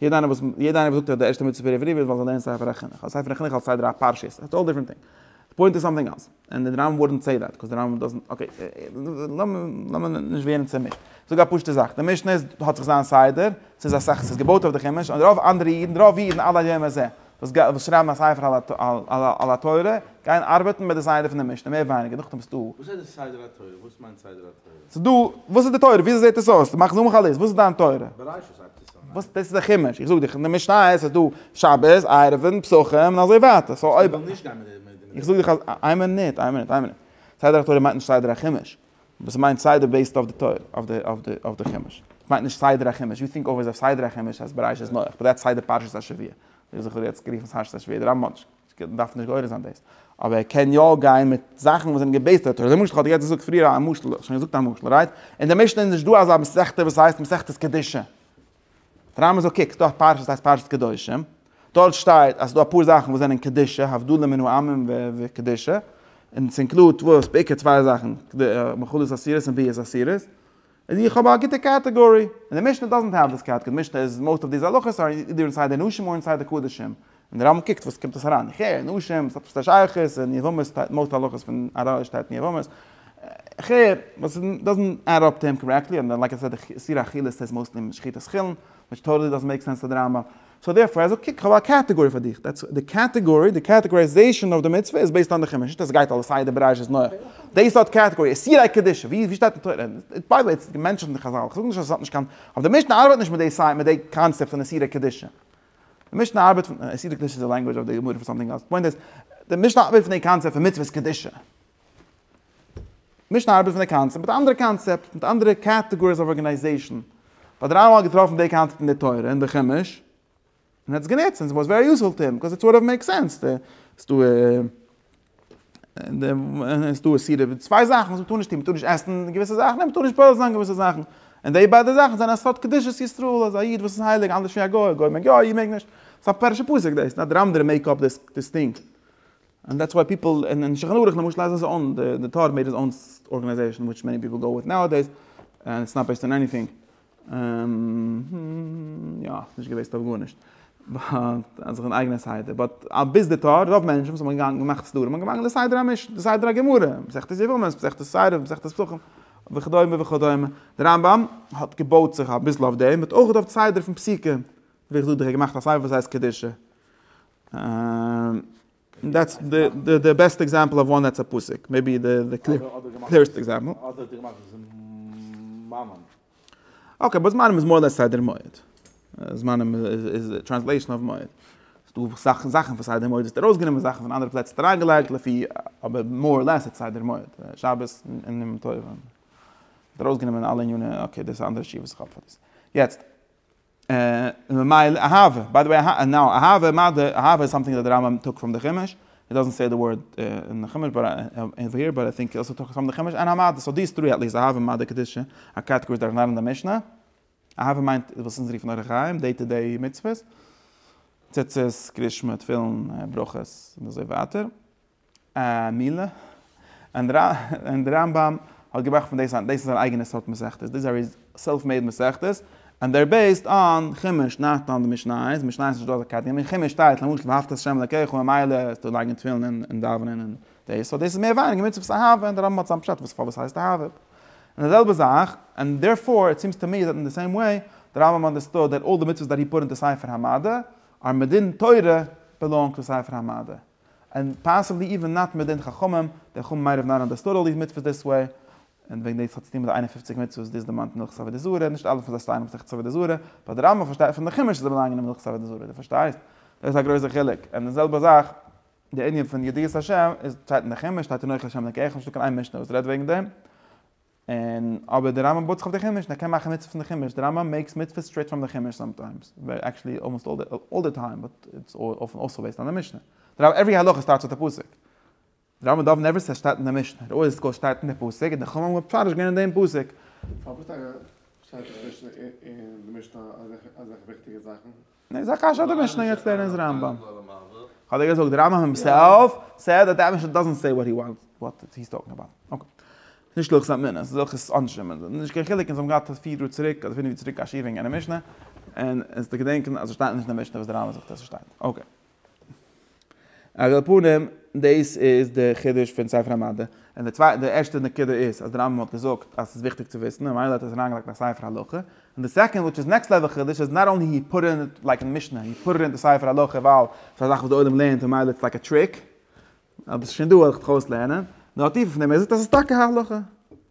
יעדע איינער וואס יעדע איינער וואס זאגט אז די ערשטע מצוה פר' עברי וועלט זאל זיין אין ספר החינוך אדער ספר החינוך אלס סדר הפרשיות איטס אלל דיפרענט טינג די פוינט איז סאמטינג עלס ענד די רמב ם וואודענט סעי דעט קאוז די רמב ם דאזענט אקעי לאמיר נישט ווערן צעמישט זאג א פשוטע זאך די משנה איז האט זיך זיין סדר ס'איז א סאך ס'איז געבויט אויף די חומש און רוב אנדערע אידן רוב אידן עד היום הזה וואס וואס שרייבן א ספר על התורה גייען ארבעטן מיט די סדר פון די משנה מער ווייניגער נאכדעם איז דא. וואס הייסט סדר התורה? וואס מיינט סדר התורה? ס'איז דא וואס איז די תורה? וויאזוי זעט עס אויס? מאך זום אויף א ליסט וואס איז דיין תורה? בראשית. וואס דאס איז א חימוש איך זאג דיך אין די משנה איז עס דא שבת ערבים פסחים און אזוי ווייטער סאו אויב איך זאג דיך אז איין מינוט איין מינוט איין מינוט סדר התורה מיינט נישט סדר החימוש וואס מיינט סדר בעיסד אויף די תורה אויף די אויף די אויף די חימוש מיינט נישט סדר החימוש יו טינק אויב איז א סדר החימוש אז בראש איז נוח באט דעטס סדר פרשת השבוע איך זיך יעצט גערופן פארשעס א שווער דער רמבן האט נישט דארף נישט גורס זיין דאס. אבער ער קען יא גיין מיט זאכן וואס זענען געבעיסט אויף תורה. למשל איך האב דיר יעצט געזאגט פריער א משל, איך האב שוין געזאגט א משל, רייט? אין די משנה איז נישט דא אזא מסכתא וואס הייסט מסכת קדושה. די רמבם זאגט קוק, ס'דא א פרשה וואס הייסט פרשת קדושים, דארט שטייט אז ס'דא אפאר זאכן וואס זענען קדושה, הבדלה מן העמים וקדושה, און ס'אינקלודט וואס? בעיקר צוויי זאכן, מאכלות אסירות און ביאות אסירות. איז איך האב א גוטע קעטעגארי, און די משנה דאזענט העוו דיס קעטעגארי, די משנה איז מאוסט אוו דיז הלכות אר אידער אינסייד די נשים אר אינסייד די קדשים, און די רמב ם קוקט וואס קומט עס אריין, איך הער נשים, עס האט עפעס א שייכות, און יבמות שטייט מאוסט הלכות פון ר ל שטייט אין יבמות, איך הער וואס איז דאזענט עד אפ טו הים קארעקטלי, און לייק א סעד סידור אכילה סטעיס מאוסטלי אין שחיטת חולין, וויטש טאטעלי דאזענט מעיק סענס טו די רמב ם. סאו דערפאר ער זאגט קוק איך האב א קעטעגארי פאר דיך, דעטס די קעטעגארי, די קעטעגארייזעישאן אויף די מצוה איז בעיסד אן די חומש, נישט אז סגייט אלעס סדר בראש איז נוח, די סארט קעטעגארי, איסורי קדושה, ווי ווי שטייט אין תורה, ביי די וועי ס'איז געמענטשעט אין די חזל, כ'זאג נישט אז עס האט נישט קיין, אבער די משנה ארבייט נישט מיט די סייט מיט די קאנצעפט פון איסורי קדושה, די משנה ארבייט פון, איסורי קדושה איז די לענגווידזש אוו די גמרא פאר סאמטינג עלס, די פוינט איז, די משנה ארבייט פון די קאנצעפט פון מצוות קדושה. מישן ארבעט פון די קאנצעפט מיט אנדערע קאנצעפט מיט אנדערע קעטעגאריס אוו ארגענייזעישן. ווייל דער רמב ם האט געטראפן די קאנצעפט אין די תורה און די חומש און האט עס גענוצט און עס וואס ווערי יוספול טו הים ביקאוס איט סארט אוו מעיקס סענס די עס דא עס דא עס דא צוויי זאכן וואס מען טאר נישט טון מען טאר נישט עסן געוויסע זאכן און מען טאר נישט פועל זיין געוויסע זאכן און די ביידע זאכן זענען א סארט קדושת ישראל אז א איד וואס איז הייליג אנדערש ווי א גוי א גוי מעג יא א איד מעג נישט ס'איז א פרשת פסח דאס נאט דער רמב ם דער מעיק אפ דיס דיס טינג. און דעטס וויי פיפל אין שולחן ערוך למשל אז עס אן די טאר מעיד איז אן ארגענעזעישן וויטש מעני פיפל גאו וויט נאועדעיס ענד איטס נאט בעיסט אן עניטינג יא עס איז נישט געבעיסט אויף גארנישט באט אז איך בין אייגענע סדר באט א ביז די טאר רוב מענטשן וואס האבן געגאנגען געמאכט סדרים האבן געמאנגען די סדר המשנה די סדר הגמרא מסכת יבמות מסכת סיירא מסכת פסחים וכדומה וכדומה די רמב ם האט געבויט זיך אביסל אויף דעם האט אויך געדארפט סדר פון פסיקה ווי איך זאג דיך ער האט געמאכט א ספר וואס הייסט קדושה און דעטס די בעסטע עקזעמפל אויף וואן דעטס א פסוק, מעיבי די קלערסטע עקזעמפל. אדער האט ער געמאכט זמנים. אקעי, באט זמנים איז מאר לעס סדר מועד. זמנים איז א טרענסלעישאן אויף מועד. ס'דא זאכן זאכן פון סדר מועד האסטו ארויסגענומען, זאכן פון אנדערע פלעצער האסטו אריינגעלייגט, לפי, אבער מאר לעס איז סדר מועד. שבת און יום טוב. ארויסגענומען אלע ענינים, אקעי דאס איז א אנדערע שיעור וואס איך האב פאר דאס. יעצט. און ממילא אהבה, ביי די וועי נאו אהבה מה די, אהבה איז סאמטינג דער רמב ם טאק פראם די חומש, הי דאזענט סעי די ווארד אין די חומש באט אווער היער באט איי טינק אי אלסא טאקס פראם די חומש און אהבה די סאו דיס טרי עטליסט אהבה מה די קדושה א קעטעגארי דורך לערנען די משנה אהבה מיינט וואס אונז רופן אורח חיים דעי טו דעי מצוות ציצית קרישמע תפילין ברכות און אזוי ווייטער. א מילה, און די רמב ם האט געמאכט פון דאס, דאס איז זיין אייגענע סארט מסכתות, דאס איז א סעלף מעיד מסכת, און דער בעיסד אן חומש נאט אן די משניות, משניות איז נישט דא אזא קאטעגארי, אין חומש שטייט למשל ואהבת את ה' אלקיך ממילא איז דא לייגן תפילין און דאווענען און דאס, סאו דאס איז מער ווייניגער מצוות אהבה, און די רמב ם האט זיין פשט וואס פארוואס הייסט אהבה, און די זעלבע זאך, און דערפאר איט סימס טו מי דעט אין די סעים וועי די רמב ם אנדערסטוד דעט אלל די מצוות דעט הי פוט אינטו ספר המדע אר מדין תורה בעלאנג טו ספר המדע. און פאסיבלי איווען נאט מיט די חכמים, די חמ מ רב נאראן דאס טאטעלי איז מיטפס דיס וועי, און וועגן דאס האט צו טון מיט די איין און פופציג מצוות דאס דערמאנט מילכיגס עבודה זרה, נישט אלע פון זיי שטייען מסכת עבודה זרה, באט די רמב ם פארשטייט פון די חומש אז זיי באלאנגען אין מילכיגס עבודה זרה, דו פארשטייסט? דאס איז א גרויסע חילוק, און די זעלבע זאך די ענין פון ידיעת השם, איז שטייט אין די חומש, שטייט אין אוכל השם אלקיך, נישטא קיין איין משנה וואס רעדט וועגן דעם, און אבער די רמב ם בויט זיך אויף די חומש און ער קען מאכן מצוות פון די חומש, די רמב ם מעיקס מצוות סטרעיט פראם די חומש סאמטיימס, עקשעלי אלמאסט אלל די טיים, באט איטס אויפן אויסוואל בעיסד אן די משנה, די רמב ם עוורי הלכה סטארטס אויף די פסוק, די רמב ם דוב נעווער סעיס שטייט אין די משנה, ראי' סקול שטייט אין די פסוק, און די חמ ם האבן מפרש געווען אין דעם פסוק. פארוואס טאקע שטייט אין די משנה אזעלכע וויכטיגע זאכן? ניין ס'איז א קשיא אדער משנה יעצט לערנען איז רמב ם. כ'האב דיר געזאגט די רמב ם הימסעלף סעד דעט די משנה דאזענט סעי וואט הי וואנט וואט הי איז טאלקינג אבאוט. אקעי. ס'איז נישט הלכות אמינות ס'איז הלכות עונשים און אזוי. נישט קיין חילוק אונז האבן געהאט פיר יאר צוריק אדער פינף יאר צוריק א שיעור וועגן יענע משנה און אונז געדענקען אז עס שטייט נישט אין די משנה וואס די רמב ם זאגט אז עס שטייט. אקעי. על כל פנים, דאס איז די חידוש פון ספר המדע. און די צווייטע, די ערשטע נקודה איז אז די רמב ם האט געזאגט אז ס'איז וויכטיג צו וויסן, ממילא האט ער עס אריינגעלייגט אין א ספר הלכה. און די סעקאנד, וויטש איז נעקסט לעוועל חידוש, איז נאט אנלי הי פוט איט לייק אין משנה, הי פוט איט אין די ספר הלכה ווייל ס'איז א זאך וואס די עולם לערנט און ממילא איטס לייק א טריק, אבער ס'איז שוין דא, ער האט זיך דאך אויסלערנען. נאר טיפער פון דעם, ער זאגט אז ס'איז טאקע הלכה.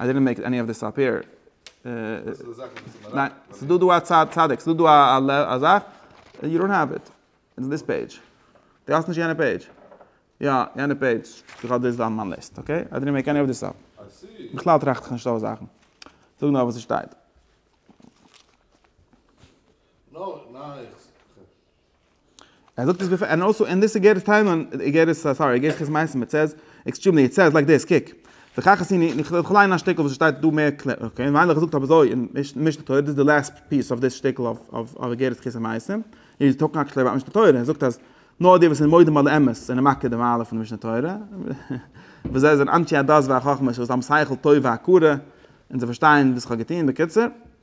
איי דידענט מעיק עני אוו דיס אפ הער. ניין, ס'איז דא דא א צד צדק, ס'איז דא דא א זאך, יו דאנט האוו איט, און דיס פעידזש. דו האסט נישט יענע פעידזש? יא, יענע פעידזש, איך האב דאס דא אין מיין ליסט, אקעי? איי דידענט מעיק עני אוו דיס אפ. בכלל טראכט איך נישט אויס זאכן. זאג נאר וואס ס'שטייט. ער זאגט עס בעפאר, ענד אלסאו, ענד דיס איגערעס טיימליין, איגערעס, סארי, איגערעס כת מעשים, איט סעז, עקסטרימלי, איט סעז לייק דיס, קוק. וכך עשיני, און איך וועל ליינען א שטיקל וואס עס שטייט דא מער קלאר, אקעי, און מיינליך זאגט אזוי אין משנה תורה, דאס איז די לעסט פיס אויף דאס שטיקל אויף איגרת כת המעשים, איז טאלקינג עקשעלי אבאוט משנה תורה, ער זאגט אז נאר די וואס זענען מודים על האמת זענען מקער די מעלה פון די משנה תורה, וואס זיי זענען אנשי הדעת והחכמה, שוואס האבן שכל טוב והכרה, און זיי פארשטייען וואס איך האב געטון, בקיצור.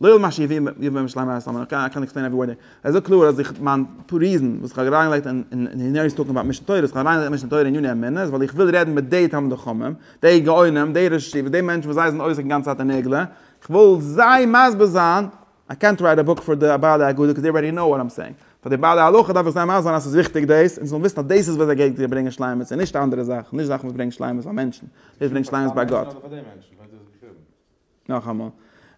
לאור מה שיביא יביא בן משלם מהר א סאמעט אקעי איי קענט עקספלעין עווערי ווארד דעיר, עס איז דא קלאר אז איך מיין ריזען וואס איך האב אריינגעלייגט אין אין הער איז טאלקינג אבאוט משנה תורה, איך האב אריינגעלייגט משנה תורה אין עניני אמונה איז ווייל איך וויל רעדן מיט דעי תלמידי חכמים, דעי גאונים, דעי ראשי ישיבות, דעי מענטשן וואס זיי זענען עוסק די גאנצע צייט אין עגלה, איך וויל זיי מסביר זיין, איי קענט רייט א בוק פאר די בעלי אגודה קאוז דעי אלרעדי קנאו וואט איים סעיאינג, פאר די בעלי הלכה דארף איך זיי מסביר זיין אז עס איז וויכטיג דאס, און זיי זאלן וויסן אז דאס איז וואס גייט דיר ברענגען שלימות און נישט אנדערע זאכן, נישט זאכן וואס ברענגט שלימות ביי מענטשן, דאס ברענגט שלימות ביי גאט. נאכאמאל,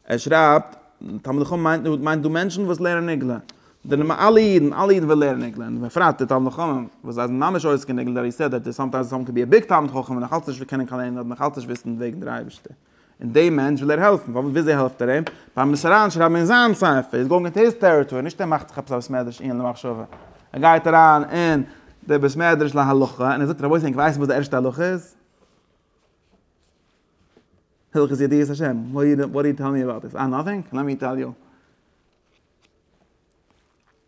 ער שרייבט, תלמידי חכמים מיינט דא מיינט דא מענטשן וואס לערנען נגלה, די נ ב אלע אידן אלע אידן וועלן לערנען נגלה, און בפרט די תלמידי חכמים וואס זיי זענען ממש עוסק אין נגלה, דער יסוד אז סאמטיימס סאמען קען בי ע ביג תלמיד חכם און נאך אלץ נישט קענען קיין ענין אדער נאך אלץ נישט וויסן וועגן דער אייבערשטער, און דעם מענטש וויל ער העלפן, פארוואס וויאזוי העלפט ער אים? ביים עס אריין שרייבן אין זיין ספר, איז גאוינג אינטו היז טעריטארי, נישט ער מאכט זיך עפעס א בית מדרש עיון למחשבה, ער גייט אריין אין דער בית מדרש להלכה און ער זאגט רבותי ענק ווייסן וואס די ערשטע הלכה איז? הלכות ידיעת השם, וואט דו טעל מי אבאוט דיס? אה נאטינג? לעט מי טעל יו.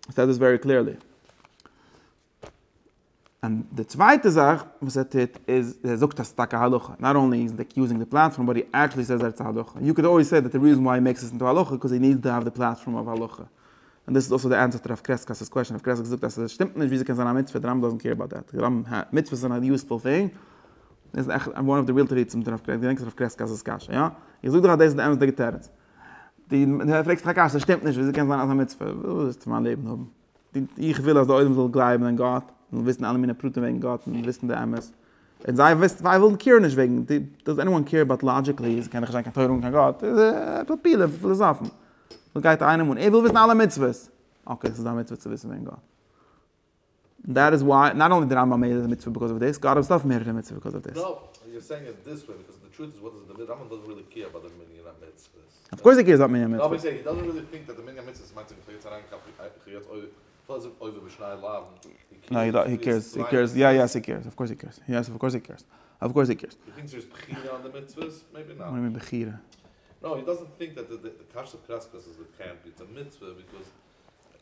עס זעט דאס ווערי קליערלי. און די צווייטע זאך וואס ער טוט איז ער זאגט אז ס'טאקע הלכה, נאט אנלי איז די יוזינג די פלאטפארם באט הי עקטשעלי סעיס אז איטס הלכה, יו קען אלוועיס סעי דעט די ריזען וויי הי מעיקס איט אינטו הלכה קאוז הי נידס טו האוו די פלאטפארם אוו הלכה, און דאס איז אויסער די ענטפער צו הרב קרעסקאס'ס קוועשאן, הרב קרעסקאס זאגט אז ס'שטימט נישט וויאזוי קען זיין א מצוה, די רמב ם דאזענט קעיר אבאוט דעט, די רמב ם מיט מצוות זענען א יוזפול טינג, דאס איז עכט וואן אוו די ריעל תירוצים מיט הרב קרעסקי, געדענק איך האב געפרעגט הרב קרעסקי'ס קשיא, יא? איך זאג דיר אז דאס איז די אמת'דיגע תירוץ. די פרעגסט דיך א קשיא, שטימט נישט, וויאזוי קען זיין אז א מצוה? וואס ווילסטו פון מיין לעבן האבן? איך וויל אז די עולם זאל גלייבן אין גאט, זאל וויסן אלע מיני פרטים וועגן גאט און וויסן די אמת. און זיי ווילן קעיר נישט וועגן, דאז עניוואן קעיר אבאוט לאדזשיקלי, ס'קען דאך נישט זיין קיין תורה אן קיין גאט, עפעס פילע פילאזאפן. וואס גייט איינעם אן? ער וויל וויסן אלע מצוות. אקעי, ס'איז דיין מצוה צו וויסן וועגן גאט. און דעט איז וויי נאט אנלי די רמב ם איז א מצוה ביקאוז אוו דיס, גאר אויסטארף מערערע מצוה ביקאוז אוו דיס. אויף קורס די קעירס אבאוט מנין המצוות.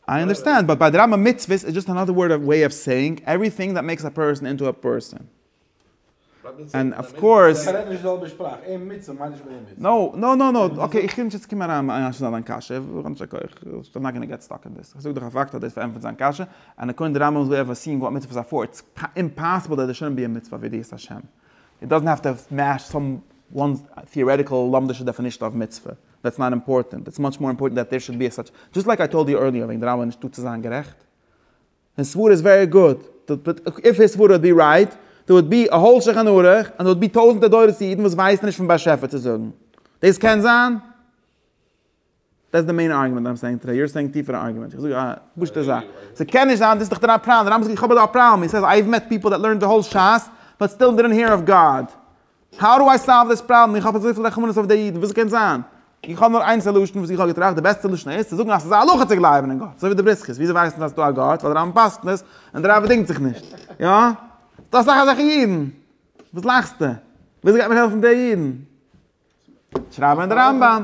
איי אנדערסטענד, באט ביי די רמבם מצוות איז דזשאסט אנאדער ווארד אוו וועי אוו סעיאינג עווריטינג דעט מעיקס א פערסאן אינטו א פערסאן. ענד אוו קאורס. זיי רעדן נישט די זעלבע שפראך, ער מצוה מיינט נישט ביי אים מצוה. נאו נאו נאו נאו, אקעי איך וויל נישט יעצט קומען אריין מיט איין שאלה אין דיין קשיא, ווילאנג איך בין נאט גאנא געט סטאק אין דעס, איך זאג דאך א פאקט אז דאס פארענטפערט זיין קשיא, און אקארדינג די רמבם'ס וועי אוו סיאינג וואט מצוה איז א פאר, איטס אימפאסיבל דעט דער שוין בי אים מצוה אויף ידיעת השם. איט דאזענט העוו טו מעטש סאם וואן טיארעטיקעל לומדישע דעפינישן אוו מצוה. דעטס נאט אימפארטענט, איטס מאטש מאר אימפארטענט דעט דער שוד בי עס סאטש, דזשאסט לייק איי טאלד יו ערליער וועגן די רבי נישטא צו זיין גערעכט, היז סברה איז ווערי גוד, איף היז סברה וואלט בי רייט, דער וואלט בי א האול שולחן ערוך, און דער וואלט בי טויזענטער דורות פון אידן וואס ווייסן נישט פון באשעפער צו זאגן. דאס קען זיין? דעטס די מעין ארגומענט איים סעיאינג טודעי, יו אר סעיאינג טיפערע ארגומענטס, איך זאג א פשוטע זאך, ס'קען נישט זיין, דאס איז דאך דיין פראבלעם, דער רמב ם זאגט איך האב אזא פראבלעם, הי סעיז אייוו מעט פיפל דעט לערנט די האול ש ס באט סטיל דעדאנט העיר אויף גאד, האו דו איי סאלוו דיס פראבלעם? איך האב אזויפיל רחמנות אויף די אידן, וואס קען זיין? איך האב נאר איין סעלושן וואס איך האב געטראכט, די בעסטע סעלושן איז צו זאגן אז ס'איז א הלכה צו גלייבן אין גאט, אזוי ווי די בריסקעס, וויאזוי ווייסן זיי אז ס'דא א גאט? ווייל די רמב ם פסק'נט עס, און די רבי דינגט זיך נישט. יא? ס'דא אסאך אזעלכע אידן. וואס לאכסטו? וויאזוי גייט מען העלפן די אידן? שרייב אין די רמב ם.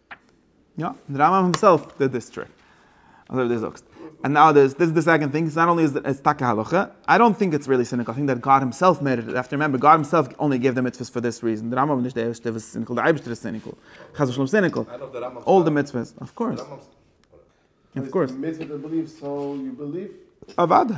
יא, און די רמב ם הימסעלף דיד דיס טריק. אזוי ווי דו זאגסט. און נאו דיס, דיס איז די סעקאנד טינג, נאט אנלי איז עס טאקע הלכה, איי דאנט טינק איטס ריעלי סיניקל, איי טינק דעט גאד הימסעלף מעיד איט, יו העוו טו רימעמבער גאד הימסעלף אנלי געבט די מצוות פאר דיס ריזען, די רמב ם איז נישט די ערשטע וואס איז סיניקל, די אייבישטער איז סיניקל. חס ושלום סיניקל. אלל די מצוות. אף קאורס. אף קאורס. אוודאי.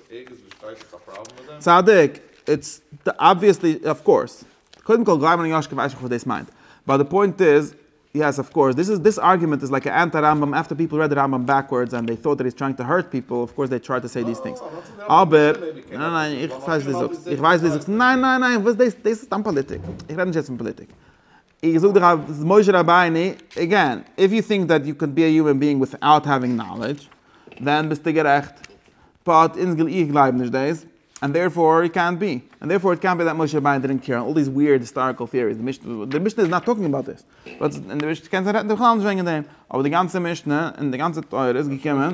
ערגעץ וואו שטייט ס'איז א פראבלעם מיט דעם? צדיק, איטס אבוויעסלי, אויף קאורס. קודם כל גלייב מיר נישט קיין ווייסעך וואס דאס מיינט. באט די פוינט איז, יעס אויף קאורס, דיס איז, דיס ארגומענט איז לייק א אנטי רמבם עפטער פיפל רעד די רמבם בעקווארדס ענד דעי טאוט דעט היז טרייאינג טו הערט פיפל, אויף קאורס דעי טריי טו סעי דיס טינגס. אבער, ניין ניין איך פארשטיי וואס דו זאגסט, איך ווייס וואס דו זאגסט, ניין ניין ניין, וואס דאס, דאס איז סתם פאליטיק. איך רעד נישט יעצט פון פאליטיק. איך זאג דיך אז משה רבינו, עגעין, איף יו טינק דעט יו קען בי א יומען ביאינג וויטאוט העווינג נאלעדזש, דען ביסטו גערעכט, באט אונז, איך גלייב נישט דאס, ענד דערפאר איט קענט בי, ענד דערפאר איט קענט בי דעט משה רבינו דידנט קעיר, אלל דיס וויערד היסטאריקעל טעאריס, די משנה, די משנה איז נאט טאלקינג אבאוט דיס, וואטס, און די משנה קען זיין רעדט בכלל נישט וועגן דעם, אבער די גאנצע משנה, און די גאנצע תורה איז געקומען.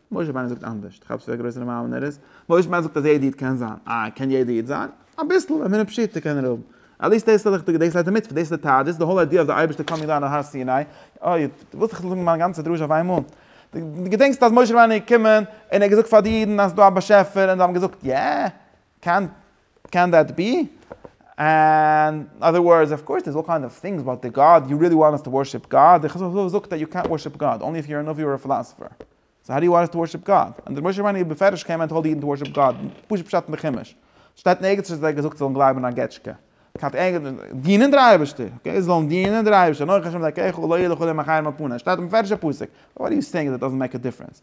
משה רבינו זאגט אנדערשט, כאפסט ווי א גרויסער מאמינער איז? משה רבינו זאגט אז יעדע איד קען זיין, אה, קען יעדע איד זיין? אביסל, ווען מינע פשיטא קען ער האבן. עטליעסט דאס איז ליכטיג, דאס ליידט א מצוה, דאס איז די טעאדיס, די האול איידיע אז דער אייבערשטער קאמינג דאון אויף הר סיני, אוי, דו ווילסט איך זאל זאגן מיין גאנצע דרשה אויף איינמאל? דו געדענקסט אז משה רבינו איז געקומען און ער האט געזאגט פאר די אידן אז ס'איז דא א באשעפער און זיי האבן געזאגט יע, קען קען דעט בי? און אדער ווארדס אוו קאורס דערס אלל קיינד אוו טינגס באט די גאד יו ריעלי וואנט אס טו ווארשיפ גאד? די חז ל זאגט דעט יו קענט ווארשיפ גאד אנלי איף יו אר א נביא אר א פילאסעפער. סאו האו דו יו וואנט אס טו ווארשיפ גאד? און דער משה רבנו האט בפירוש קען מען טעל די אידן טו ווארשיפ גאד, פשוט פשט אין די חומש. שטייט נערגיץ נישט אז ער האט געזאגט זיי זאלן גלייבן אין א געטשקע. כט דינען דער אייבערשטער. אקעי זאלן דינען דער אייבערשטער אנכי השם אלקיך ולא יהיה לכל ימיך חרב על פניו. שטייט אין די פארישע פסוק. וואט אר יו סעינג דעט דאזענט מעיק א דיפרענס?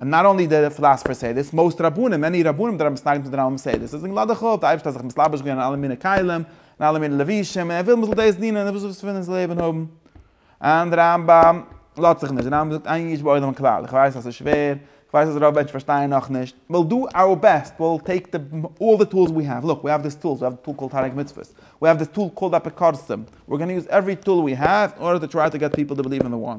און נאט אנלי די פילאספער סעי דיס, מאוסט רבנים, מעני רבנים דארט האבן עס נגד פון רמב ם סעי דיס, עס איז נגד הלכה, האט די אייבערשטער זיך מסלבש געווען אין אלע מיני כלים, אין אלע מיני לבושים, און ער וויל מען זאל דאס דינען, און וואס פון איז לעבן האבן? און רמב ם לאזט זיך נישט, רמב ם זאגט איין איש בעולם כלל, איך ווייס אז עס איז שווער, איך ווייס אז רוב מענטשן פארשטייען נאך נישט, וויל דא אווער בעסט, וויל טעיק די אלל די טולס ווי העוו, לוק ווי העוו דיס טולס, ווי העוו די טול קאלד תענוג מצוות, ווי העוו דיס טול קאלד אפיקורסים, ווער גאנא יוז עווערי טול ווי העוו, אין ארדער טו טריי טו געט פיפל טו בעליוו אין די וואן.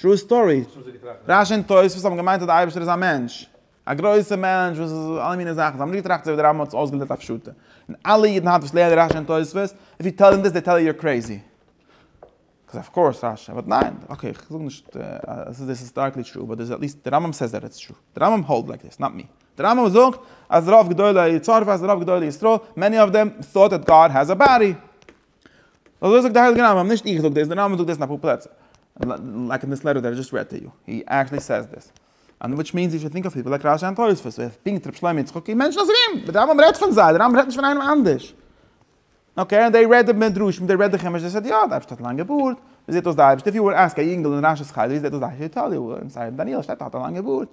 טרו סטארי. רשי און תוספות האבן געמיינט אז דער אייבערשטער איז א מענטש. א גרויסער מענטש וואס איז אלע מיני זאכן. זיי האבן נישט געטראכט אזוי ווי דער רמב ם האט עס אויסגעלערנט א פשוטע. און אלע אידן היינט וואס לערנען רשי און תוספות, איף יו טעל דעם דיס זיי טעל יו יור קרעיזי. קאז אף קאורס רשי, באט ניין. אקעי, איך זאג נישט אז עס איז היסטאריקלי טרו, באט דער עטליסט דער רמב ם סעיס דעט איטס טרו. דער רמב ם האלד לייק דיס, נאט מי. דער רמב ם זאגט אז רוב גדולי צרפת, רוב גדולי ישראל, מעני אף דעם, טאוט דעט גאד העז א באדי. אזוי זאגט די הייליגע רמב ם, נישט איך זאג דאס, די רמב ם זאגט דאס אין אפאר פלעצער, לייק אין דיס לעטער דעט איי דזשאסט רעד טו יו, הי עקטשעלי סעיס דאס, אנד וויטש מינס יו שוד טינק אוו פיפל לייק רש י אנד תוספות, און פונקט ר' שלמה יצחקי, מענטשן אזוי ווי אים, די רמב ם רעדט פון זיי, די רמב ם רעדט נישט פון איינעם אנדערש. אקעי און די רעדט די מדרשים און די רעדט די חומש דאס איז די יוד, די אייבערשטער האט א לאנגע בארד, ווי זעהט אויס די אייבערשטער, איף יו וואלט עסק א יונגל אין רש י'ס חדר ווי זעהט אויס די אייבערשטער, הי טעל יו, אין ספר דניאל שטייט ער האט א לאנגע בארד.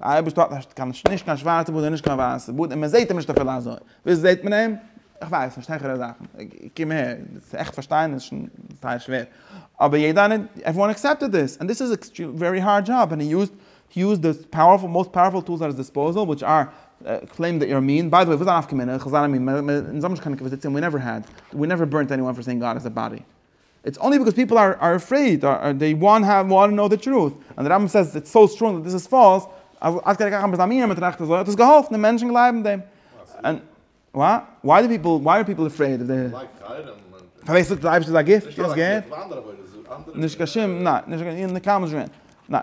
דער אייבערשטער האט נישט קיין נישט קיין שווארצע בארד און נישט קיין ווייסע בארד און מען זעט אים נישט אפילו אזוי, וויאזוי זעט מען אים? איך ווייס נישט העכערע זאכן, קום אהער, צו עכט פארשטיין איז שוין זייער שווער, אבער יעדער איינער, עוועריוואן עקסעפטעד דיס, און דיס איז א ווערי הארד דזשאב און הי יוזד הי יוזד די פאוערפול מאסט פאוערפול טולס עט היז דיספאוזעל וויטש אר קלעימד די איר מין, ביי די וועי וואס איז דיין נפקא מינה, איך זיין א מין, אונז האבן נישט קיין אינקוויזיציע און ווי נעווער העד, ווי נעווער בורנט עניוואן פאר סעינג גאד איז א באדי. איטס אנלי ביקאוז פיפל אר עפרעיד אר דעי וואנט האו וואנט נאו דע טרוט און די רמב ם סעיס איטס סאו סטראנג דעט דיס איז פאלס אז עד כדי כך אז א מין עם טראכט אזוי האט עס געהאלפן די מענטשן גלייבן דעם און וויי דו פיפל וויי אר פיפל עפרעיד אוו דעי פארווער זאגט אז אייבישטער איז א גיפט נישט קיין שום ניין נישט קיין נקמה זשע ניין.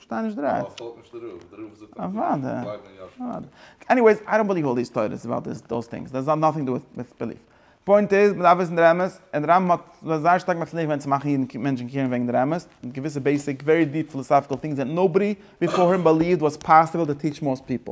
שטיין נישט דרײַ. ווייל עס האלט נישט די רוב, די רוב זאגט אז די אידן גלייבן אין יאשקע. אוודאי. עניוועיס, איי דאנט ביליוו אלל דיס תורות אבאוט דיס דאס טינגס, דאס האט נאטינג טו דו וויט ביליוו. פוינט איז, מ'דארף וויסן דער אמת, און רמב ם האט זיך זייער שטארק מצליח געווען צו מאכן אידן מענטשן קעירן וועגן דער אמת, מיט געוויסע בעיסיק ווערי דיעפ פילאסאפיקעל טינגס דעט נאובאדי ביפאר הים ביליווד וואס פאסיבל טו טיעטש מאסט פיפל.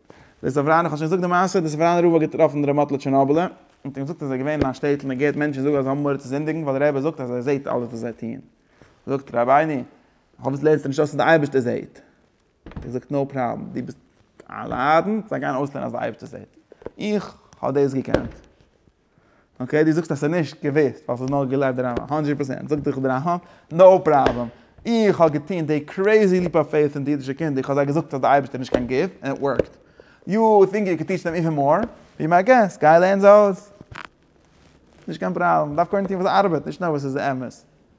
דער סאווראנער, כ'האב שוין געזאגט די מעשה, דער סאווראנער רב האט געטראפן ר' מאטלע טשערנאבעלער, און האט אים געזאגט אז ער איז געווען אין א שטעטל און געהערט מענטשן זאגן אז זיי האבן מורא צו זינדיגן ווייל דער רבי זאגט אז ער זעהט אלעס וואס זיי טוען. זאגט רבינו, פארוואס לערנסטו נישט אויס אז דער אייבערשטער זעהט? האט ער געזאגט נאו פראבלעם, דו ביסט א ליידענד, זיי גייען אויסלערנען אז דער אייבערשטער זעהט. איך האב דאס געקענט. אקעי דו זאגסט אז ס'איז נישט געוויסט ווייל ס'איז נאר געלייגט דער רמבם הונדרעט פראצענט זאגט דיך דער רמבם נאו פראבלעם איך האב געטון די קרעיזי ליעפ אוו פעיט אין די אידישע קינדער איך האב זיי געזאגט אז דער אייבערשטער איז נישט קיין גוף און איט ווארקט יו טינק יו קען טיטש דעם איווען מאר? בי מיי געסט גיי לערן זיי אויס נישט קיין פראבלעם מ'דארף קודם טון וואס ארבעט נישט נאר וואס איז אמת.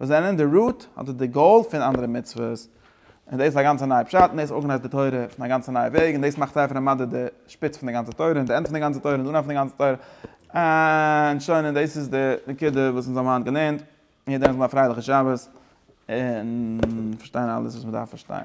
וואס זענען די רוט אדער די גאול פון אנדערע מצוות, און דאס איז א גאנצע נייע פשט, און דאס ארגענייזט די תורה אויף א גאנצע נייע וועג, און דאס מאכט זייער פון א מדע די שפיץ פון די גאנצע תורה, און די ענד פון די גאנצע תורה, און די אנהייב פון די גאנצע תורה, און שוין, און דאס איז די נקודה וואס אונז האבן היינט געלערנט, און יעדער זאל האבן א פרייליכע שבת, און פארשטיין אלעס וואס מען דארף פארשטיין.